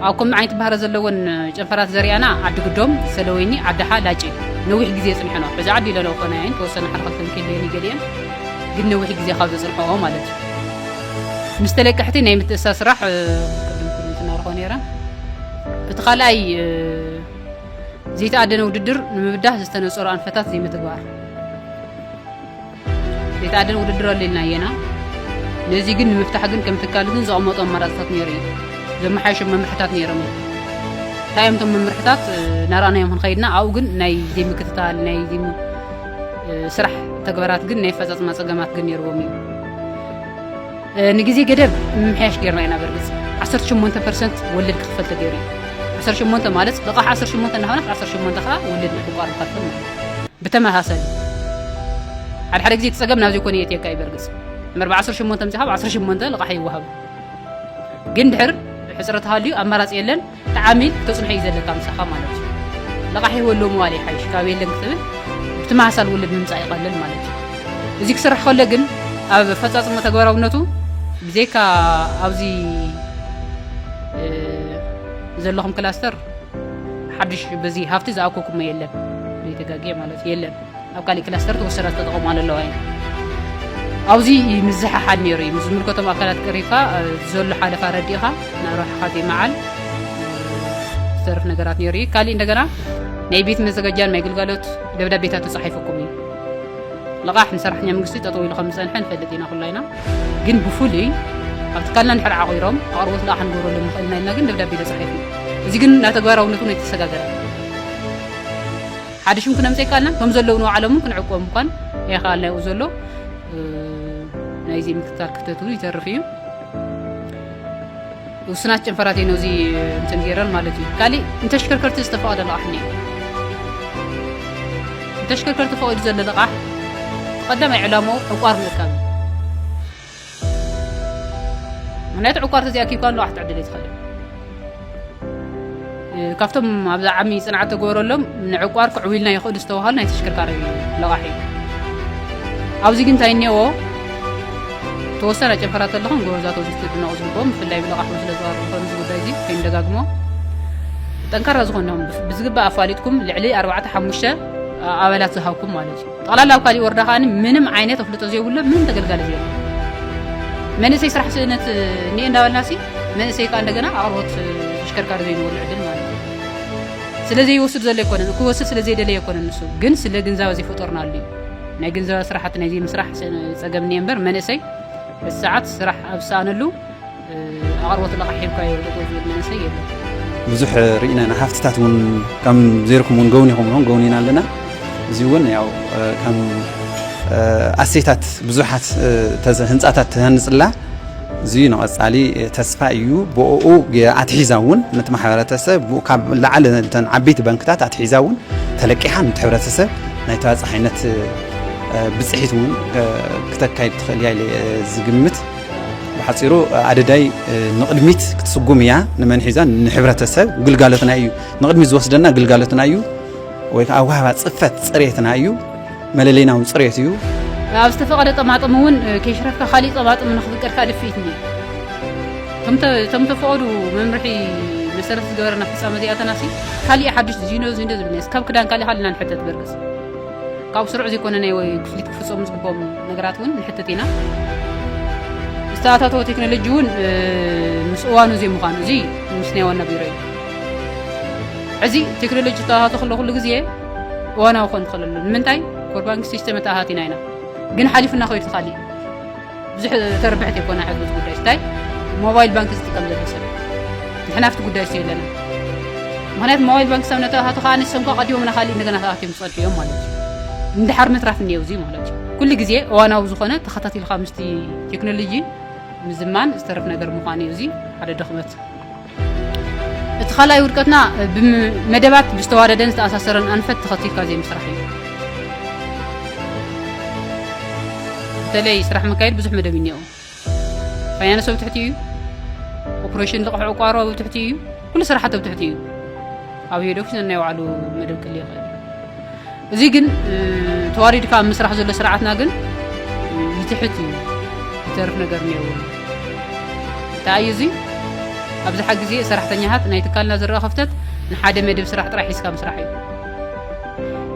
ኣብ ከምዚ ዓይነት ባህረ ዘለወን ጨንፈራት ዘሪኣና ዓዲ ግዶም ሰለወይኒ ዓዳሓ ላጭ ነዊሕ ግዜ የፅንሐኖ ሕዚ ዓዲ ኢለለ ኮናየን ተወሰነ ሓደ ክልተ ንክልየን ይገሊየን ግን ነዊሕ ግዜ ካብ ዘፅንሐኦ ማለት እዩ ምስ ተለቀሕቲ ናይ ምትእሳ ስራሕ ትናርኾ ነረ እቲ ካልኣይ ዘይተኣደነ ውድድር ንምብዳህ ዝተነፀሩ ኣንፈታት ዘይምትግባር ቤት ኣደን ውድድር ኣሎ ኢልና እየና ነዚ ግን ንምፍታሕ ግን ከም ትካል ግን ዘቐመጡ ኣማራፅታት ነይሩ እዩ ዘመሓየሾ መምርሕታት ነይሮም እዩ እንታይ እዮም እቶም መምርሕታት ናራእናዮም ክንኸይድና ኣብኡ ግን ናይ ዘይምክትታል ናይ ስራሕ ተግባራት ግን ናይ ፈፃፅማ ፀገማት ግን ነይርዎም እዩ ንግዜ ገደብ ምምሕያሽ ጌርና ኢና በርግጽ ዓሰርተ ሸሞንተ ፐርሰንት ወለድ ክኽፈል ተገይሩ እዩ ዓሰርተ ሸሞንተ ማለት ልቓሕ ዓሰርተ ሸሞንተ እናኾነት ዓሰርተ ሸሞንተ ከዓ ወለድ ምሕቋር ንኸፍል ማለት እዩ ብተመሳሳሊ ሓደ ሓደ ግዜ ትጸገም ናብ ዘይኮነ የእትየካ እዩ በርግጽ መርብ ዓሰርተ ሸሞንተ ምጽሓብ ዓሰርተ ሸሞንተ ልቓሕ ይወሃብ ግን ድሕር ሕጽረት ሃልዩ ኣማራጺ የለን ተዓሚ ተጽንሖ እዩ ዘለካ ምሳኻ ማለት እዩ። ለቓሒ ወሎ ምባል ይሓይሽ ካብ የለን ክትብል ብትመሳሳሊ ውልድ ምምጻእ ይቐልል ማለት እዩ። እዚ ክስራሕ ከሎ ግን ኣብ ኣፈጻጽሞ ተግባራውነቱ ብዘይካ ኣብዚ ዘለኹም ክላስተር ሓድሽ በዚ ሃፍቲ ዝኣኮኩሞ የለን ዘይተጋግየ ማለት የለን። ኣብ ካሊእ ክላስተር ተወሰዳ ዝተጠቐማሉ ኣለዋ እየን ኣብዚ ምዝሕሓድ ነይሩ እዩ ምስ ዝምልከቶም ኣካላት ቀሪብካ ዘሎ ሓለፋ ረዲእኻ ናብ ረብሓኻ ዘይመዓል ዝተርፍ ነገራት ነይሩ እዩ ካሊእ እንደገና ናይ ቤት መዘጋጃን ናይ ግልጋሎት ደብዳቤታት ተፃሒፉኩም እዩ ልቓሕ ንሰራሕተኛ መንግስቲ ጠጠው ኢሉ ከም ዝፀንሐ ንፈልጥ ኢና ኩላ ኢና ግን ብፍሉይ ኣብ ትካልና ንድሕር ዓቑሮም ኣቕርቦት ልቓሕ ክንገብረሉ ንኽእል ኢና ኢልና ግን ደብዳቤ ተፃሒፉ እዚ ግን ናብ ተግባራውነቱ ነው የተሰጋገረ ሓደ ሽም ክነምጼካ ኣልና እቶም ዘለዉ ንባዕሎምን ክንዕቆ ምኳን ኣይኸኣልና ይኡ ዘሎ ናይ እዚ ምክትታል ክፍተት እውን ይተርፍ እዩ ውስናት ጨንፈራት እየ ነዚ እንትን ገይረን ማለት እዩ ካሊእ ንተሽከርከርቲ ዝተፈቐደ ልቓሕ እኒ ንተሽከርከርቲ ፈቒዱ ዘሎ ልቓሕ ቀዳማይ ዕላምኡ ዕቋር ምእካብ እዩ ምክንያቱ ዕቋር ተዘይኣኪብካ ኣለዋ ክትዕድል ትኽእል ካብቶም ኣብዛ ዓሚ ፅንዓት ተገበረሎም ንዕቋር ክዕብልና ይኽእሉ ዝተባሃሉ ናይ ተሽከርካሪ ለቓሒ ኣብዚ ግን እንታይ እኒአዎ ተወሰነ ጨንፈራት ኣለኹም ጎበዛት ወዘቲ ድነቑ ዝግብኦም ብፍላይ ብለቓሒ ስለ ዝባሩ ዝኾኑ እዚ ጉዳይ እዚ ከይንደጋግሞ ጠንካራ ዝኾኖም ብዝግባእ ኣፋሊጥኩም ልዕሊ ኣርባዕተ ሓሙሽተ ኣባላት ዝሃብኩም ማለት እዩ ጠቕላላ ኣብ ካሊእ ወረዳ ከኣ ምንም ዓይነት ኣፍልጦ ዘይብሎም ምንም ተገልጋሊ ዘይብሎም መንእሰይ ስራሕ ስእነት እኒኤ እንዳበልናሲ መንእሰይ ከዓ እንደገና ኣቕርቦት ተሽከርካሪ ዘይንበሉ ዕድል ማለት እዩ ስለዘይወስድ ዘሎ ኣይኮነን ክወስድ ስለዘይደለየ ኣይኮነን ንሱ ግን ስለ ግንዛበ ዘይፈጠርናሉ እዩ ናይ ግንዛበ ስራሕቲ ናይ ዘይምስራሕ ፀገም እኒኤ እምበር መንእሰይ እቲ ሰዓት ስራሕ ኣብ ዝሰኣነሉ ኣቕርቦት ለቓሕ ሂብካ ይብል ጠጠው ዝብል መንእሰይ የለን ብዙሕ ርኢና ኢና ሃፍትታት እውን ከም ዘይርኩም እውን ገውን ይኹም ም ገውን ኢና ኣለና እዚ እውን ያው ከም ኣሴታት ብዙሓት ህንፃታት ተሃንፅላ እዚ ንቐፃሊ ተስፋ እዩ ብኡ ኣትሒዛ እውን ነቲ ማሕበረተሰብ ካብ ላዕሊ ተን ዓበይቲ ባንክታት ኣትሒዛ እውን ተለቂሓ ነቲ ሕብረተሰብ ናይ ተባፃሓይነት ብፅሒት እውን ክተካይድ ትኽእል እያ ዝግምት ብሓጺሩ ኣደዳይ ንቕድሚት ክትስጉም እያ ንመን ሒዛ ንሕብረተሰብ ግልጋሎትና እዩ ንቕድሚት ዝወስደና ግልጋሎትና እዩ ወይ ከዓ ዋህባ ፅፈት ፅሬትና እዩ መለለይና እውን ፅሬት እዩ ኣብ ዝተፈቐደ ጠማጥም እውን ከይሽረፍካ ካሊእ ጠማጥም ንክፍቀድካ ድፍኢት እኒ እቶም ተፈቐዱ መምርሒ መሰረት ዝገበረና ፍፃመ እዚኣተናሲ ካሊእ ሓዱሽ ዚኖ ዚንዶ ዝብል ካብ ክዳን ካሊእ ካሊእና ንሕተት በርግፅ ካብ ስሩዕ ዘይኮነ ናይ ክፍሊት ክፍፀሙ ዝግብኦም ነገራት እውን ንሕትት ኢና። ዝተኣታተወ ቴክኖሎጂ እውን ምስ እዋኑ ዘይምዃኑ እዚ ምስ ናይ ዋና ቢሮ እዩ። ሕዚ ቴክኖሎጂ ዝተኣታቶ ከሎ ኩሉ ግዜ እዋናዊ ክኾን ይኽእል ኣሎ። ንምንታይ ኮር ባንኪ ሲስተም ኣተኣታቲና ኢና፣ ግን ሓሊፉና ከይዱ ተኻሊእ ብዙሕ ተርብሕት የኮና ሕሉት ጉዳይ ስታይ ሞባይል ባንክ ዝጥቀም ዘሎ ሰብ ንሕና ኣብቲ ጉዳይ ስ የለና ምክንያቱ ሞባይል ባንክ ሰብ ነተኣታቱ ከዓ ንሰም ከዓ ቀዲሞም ናካሊእ እንደገና ተኣትዮም ዝፀድሑ እዮም ማለት እዩ እንድሓር ምትራፍ እኒየው እዚ ማለት እዩ ኩሉ ግዜ እዋናዊ ዝኾነ ተኸታቲልካ ምስቲ ቴክኖሎጂ ምዝማን ዝተረፍ ነገር ምዃኑ እዩ እዚ ሓደ ድኽመት እቲ ካልኣይ ውድቀትና ብመደባት ብዝተዋደደን ዝተኣሳሰረን ኣንፈት ተኸቲልካ ዘይምስራሕ እዩ። በተለይ ስራሕ መካየድ ብዙሕ መደብ እኒኦ ፋይናንስ ኣብ ትሕቲ እዩ ኦፕሬሽን ልቕሕ ዕቋሮ ኣብ ትሕቲ እዩ ኩሉ ስራሓት ኣብ ትሕቲ እዩ ኣብ ሄዶክ ናይ ባዕሉ መደብ ክል ይኽእል እዚ ግን ተዋሪድካ ኣብ ምስራሕ ዘሎ ስርዓትና ግን ይትሕት እዩ ዝተርፍ ነገር ነይሩ እንታይ እዩ እዚ ኣብዝሓ ግዜ ሰራሕተኛታት ናይ ትካልና ዝረኣ ክፍተት ንሓደ መደብ ስራሕ ጥራሕ ሒዝካ ምስራሕ እዩ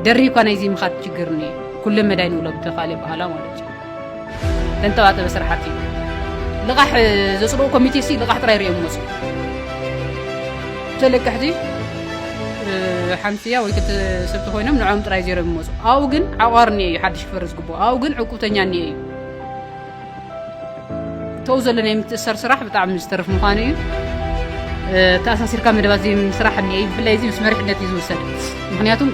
ደሪብካ ናይዚ ምኻድ ችግር እኒአ ኩለ መዳይ ንብሎ ብተኻለ በሃላ ማለት እዩ ተንተባተበ ስራሕቲ ልቓሕ ዘፅድቑ ኮሚቴ ሲ ልቓሕ ጥራይ ሪኦም ይመፁ ተለቀሕቲ ሓንቲያ ወይ ክልተ ሰብቲ ኮይኖም ንዕኦም ጥራይ ዜሮም ይመፁ ኣብኡ ግን ዓቋር እኒአ እዩ ሓድሽ ክፈርስ ዝግብኦ ኣብኡ ግን ዕቁብተኛ እኒአ እዩ ተው ዘሎ ናይ ምትእሰር ስራሕ ብጣዕሚ ዝተርፍ ምዃኑ እዩ ተኣሳሲርካ መደባት ዘይምስራሕ እኒአ እዩ ብፍላይ እዚ ምስ መሪሕነት እዩ ዝውሰድ ምክንያቱም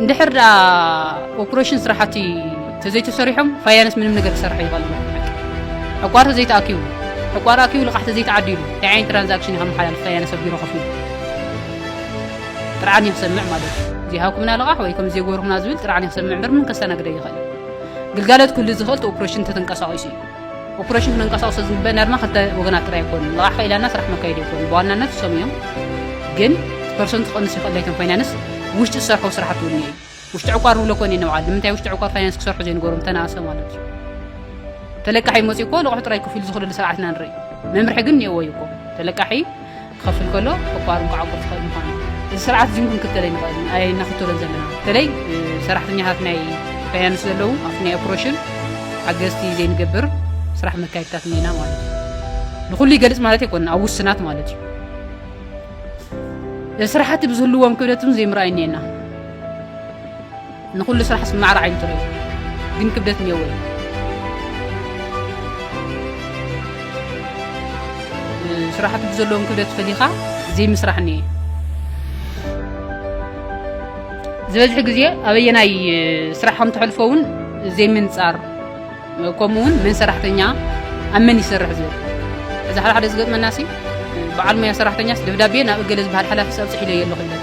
እንድሕር ደኣ ኦፕሬሽን ስራሕቲ ተዘይተሰሪሖም ፋያነስ ምንም ነገር ክሰርሐ ይኽእል ዕቋር ተዘይተኣኪቡ ዕቋር ኣኪቡ ልቓሕ ተዘይተዓዲሉ እንታይ ዓይነት ትራንዛክሽን እዩ ከመሓላልፍ ፋያነስ ኣብ ቢሮ ከፍ ኢሉ ጥርዓን ይክሰምዕ ማለት እዩ ዚሃኩምና ልቓሕ ወይ ከም ዜጎርኩምና ዝብል ጥርዓን ይክሰምዕ ምርምን ከስተናግደ ይኽእል ግልጋሎት ክህሉ ዝኽእል ኦፕሬሽን ተተንቀሳቒሱ እዩ ኦፕሬሽን ክንንቀሳቀስ ስለዝንበ ናድማ ክልተ ወገናት ጥራይ ኣይኮኑን ልቓሕ ከኢላና ስራሕ መካየዲ ይኮኑ ብዋናነት እሶም እዮም ግን ፐርሰንት ክቐንስ ይኽእል ለይቶም ፋይናንስ ውሽጢ ዝሰርሖ ስራሕቲ እውን እዩ ውሽጢ ዕቋር ንብሎ ኮነ ንበዓል ንምንታይ ውሽጢ ዕቋር ፋይናንስ ክሰርሑ ዘይንገሮም ተናእሰ ማለት እዩ ተለቃሒ መፅኡ እኮ ልቑሑ ጥራይ ክፍሉ ዝኽእለሉ ስርዓት ኢና ንርኢ መምርሒ ግን እኒኦዎ እዩ እኮ ተለቃሒ ክኸፍል ከሎ ዕቋርን ክዓቁር ዝኸእል ምዃኑ እዚ ስርዓት እዚን ክንክተል ኣይንኸእልን ኣይናኽተሎን ዘለና በተለይ ሰራሕተኛታት ናይ ፋይናንስ ዘለዉ ኣብቲ ናይ ኦፕሬሽን ሓገዝቲ ዘይንገብር ስራሕ መካየድታት እኒና ማለት እዩ ንኹሉ ይገልፅ ማለት ኣይኮነ ኣብ ውስናት ማለት እዩ ስራሕቲ ብዝህልዎም ክብደት እውን ዘይምርኣይ እኒአና ንኹሉ ስራሕስ ብማዕረ ዓይኒ ትሪኦ ግን ክብደት እኒኦዎ እዩ። ስራሕቲ ብዘለዎም ክብደት ፈሊኻ ዘይምስራሕ እኒኤ። ዝበዝሕ ግዜ ኣበየናይ ስራሕ ከም ተሕልፎ እውን ዘይምንፃር ከምኡ እውን መን ሰራሕተኛ ኣብ መን ይሰርሕ ዝብል እዚ ሓደ ሓደ ዝገጥመናሲ በዓል ሙያ ሰራሕተኛስ ደብዳቤ ናብ እገለ ዝበሃል ሓላፊስ ኣብፅሒለዮ ኣለኹ ይብለካ።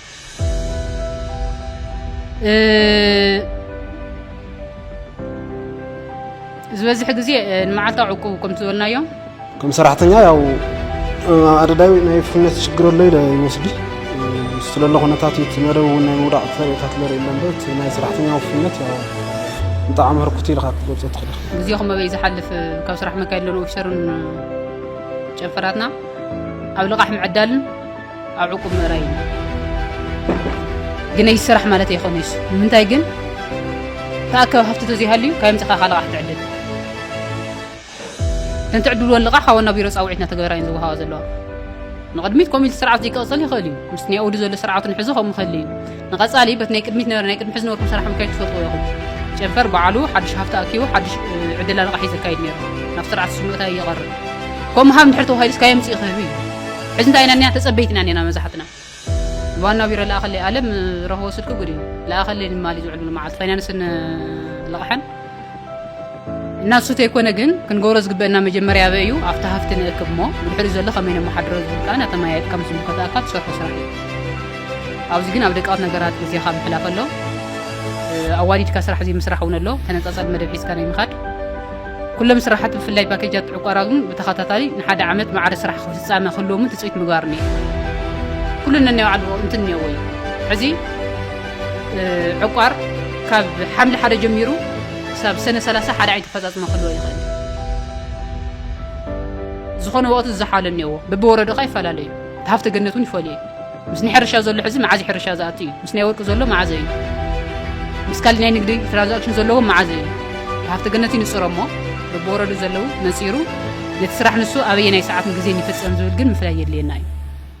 ዝበዝሕ ግዜ ንመዓልታዊ ዕቁብ ከም ዝበልናዮ ከም ሰራሕተኛ ያው ኣደዳዊ ናይ ፍትነት ሽግር ኣሎ ኢለ ይወስዲ ስለሎ ኩነታት እቲ መደብ እውን ናይ ምውዳቕ ተርእታት ለርኢ ኣሎ እምበር እቲ ናይ ሰራሕተኛ ውፍነት ያው ብጣዕሚ ህርኩት ኢልካ ክትገልፆ ትኽእል ኢኻ ግዜኹም ኣበይ ዝሓልፍ ካብ ስራሕ መካየድ ሎን ኦፊሰርን ጨንፈራትና ኣብ ልቓሕ ምዕዳልን ኣብ ዕቁብ ምእራይ እዩ ግነይ ስራሕ ማለት ኣይኮነ ይሱ ንምንታይ ግን ተኣከብ ሃፍቲ ተዘይሃልዩ ካብ ምፅኻ ካለቃ ክትዕድል እተን ትዕድልዎ ልቓ ካብ ዋና ቢሮ ፃውዒት እናተገበራ እየን ዝወሃባ ዘለዋ ንቕድሚት ኮሚቲ ስርዓት ዘይክቕፅል ይኽእል እዩ ምስ ናይ ኦዱ ዘሎ ስርዓቱን ሕዚ ከምኡ ከሊ እዩ ንቐጻሊ በቲ ናይ ቅድሚት ነበረ ናይ ቅድሚ ሕዚ ነበርኩም ሰራሕኩም ከይ ትፈትዎ ኢኹም ጨንፈር በዓሉ ሓድሽ ሃፍቲ ኣኪቡ ሓድሽ ዕድላ ልቓሒ ዘካይድ ነይሩ ናብ ስርዓት ስምእታ ይቐርብ ከም ምሃብ ንድሕር ተባሂሉስ ካይ ምጽኢ ክህብ እዩ ሕዚ እንታይ ኢና ኒና ተጸበይቲ ኢና ኒና መብዛሕትና ዋና ቢሮ ለኣኸለይ ኣለም ረኸቦ ስልኪ ጉድ እዩ ለኣኸለይ ንማሊ ዝውዕሉ መዓልቲ ፋይናንስን ልቕሐን እናሱ ተይኮነ ግን ክንገብሮ ዝግበእና መጀመርያ ኣበ እዩ ኣብቲ ሃፍቲ ንእክብ እሞ ብድሕሪኡ ዘሎ ከመይ ነመሓድሮ ዝብል ከዓ ናተመያየጥካ ምስ ዝምልከተኣካ ትሰርሖ ስራሕ እዩ ኣብዚ ግን ኣብ ደቃት ነገራት ግዜኻ ምሕላፍ ኣሎ ኣዋዲድካ ስራሕ ዘይምስራሕ እውን ኣሎ ተነፃፀል መደብ ሒዝካ ናይ ምኻድ ኩሎም ስራሓት ብፍላይ ፓኬጃት ዕቋራ ግን ብተኸታታሊ ንሓደ ዓመት ማዕረ ስራሕ ክፍፃመ ክህልዎምን ትፅቢት ምግባር እኒአ ኩሉ ነናይ ባዕሉ እንትን እኒኦዎ እዩ ሕዚ ዕቋር ካብ ሓምሊ ሓደ ጀሚሩ ክሳብ ሰነ ሰላሳ ሓደ ዓይነት ኣፈፃፅማ ክህልዎ ይኽእል እዩ። ዝኾነ ወቕቲ ዝዘሓለ እኒአዎ በብወረዳኻ ይፈላለዩ እቲ ሃፍተ ገነት እውን ይፈልዩ እዩ ምስ ናይ ሕርሻ ዘሎ ሕዚ መዓዝ ሕርሻ ዝኣቱ እዩ ምስ ናይ ወርቂ ዘሎ መዓዘ እዩ ምስ ካልእ ናይ ንግዲ ትራንዛክሽን ዘለዎ መዓዘ እዩ እቲ ሃፍተ ገነት ይንፅሮ እሞ በብወረዱ ዘለዉ ነፂሩ ነቲ ስራሕ ንሱ ኣበየ ናይ ሰዓትን ግዜን ይፍፀም ዝብል ግን ምፍላይ የድልየና እዩ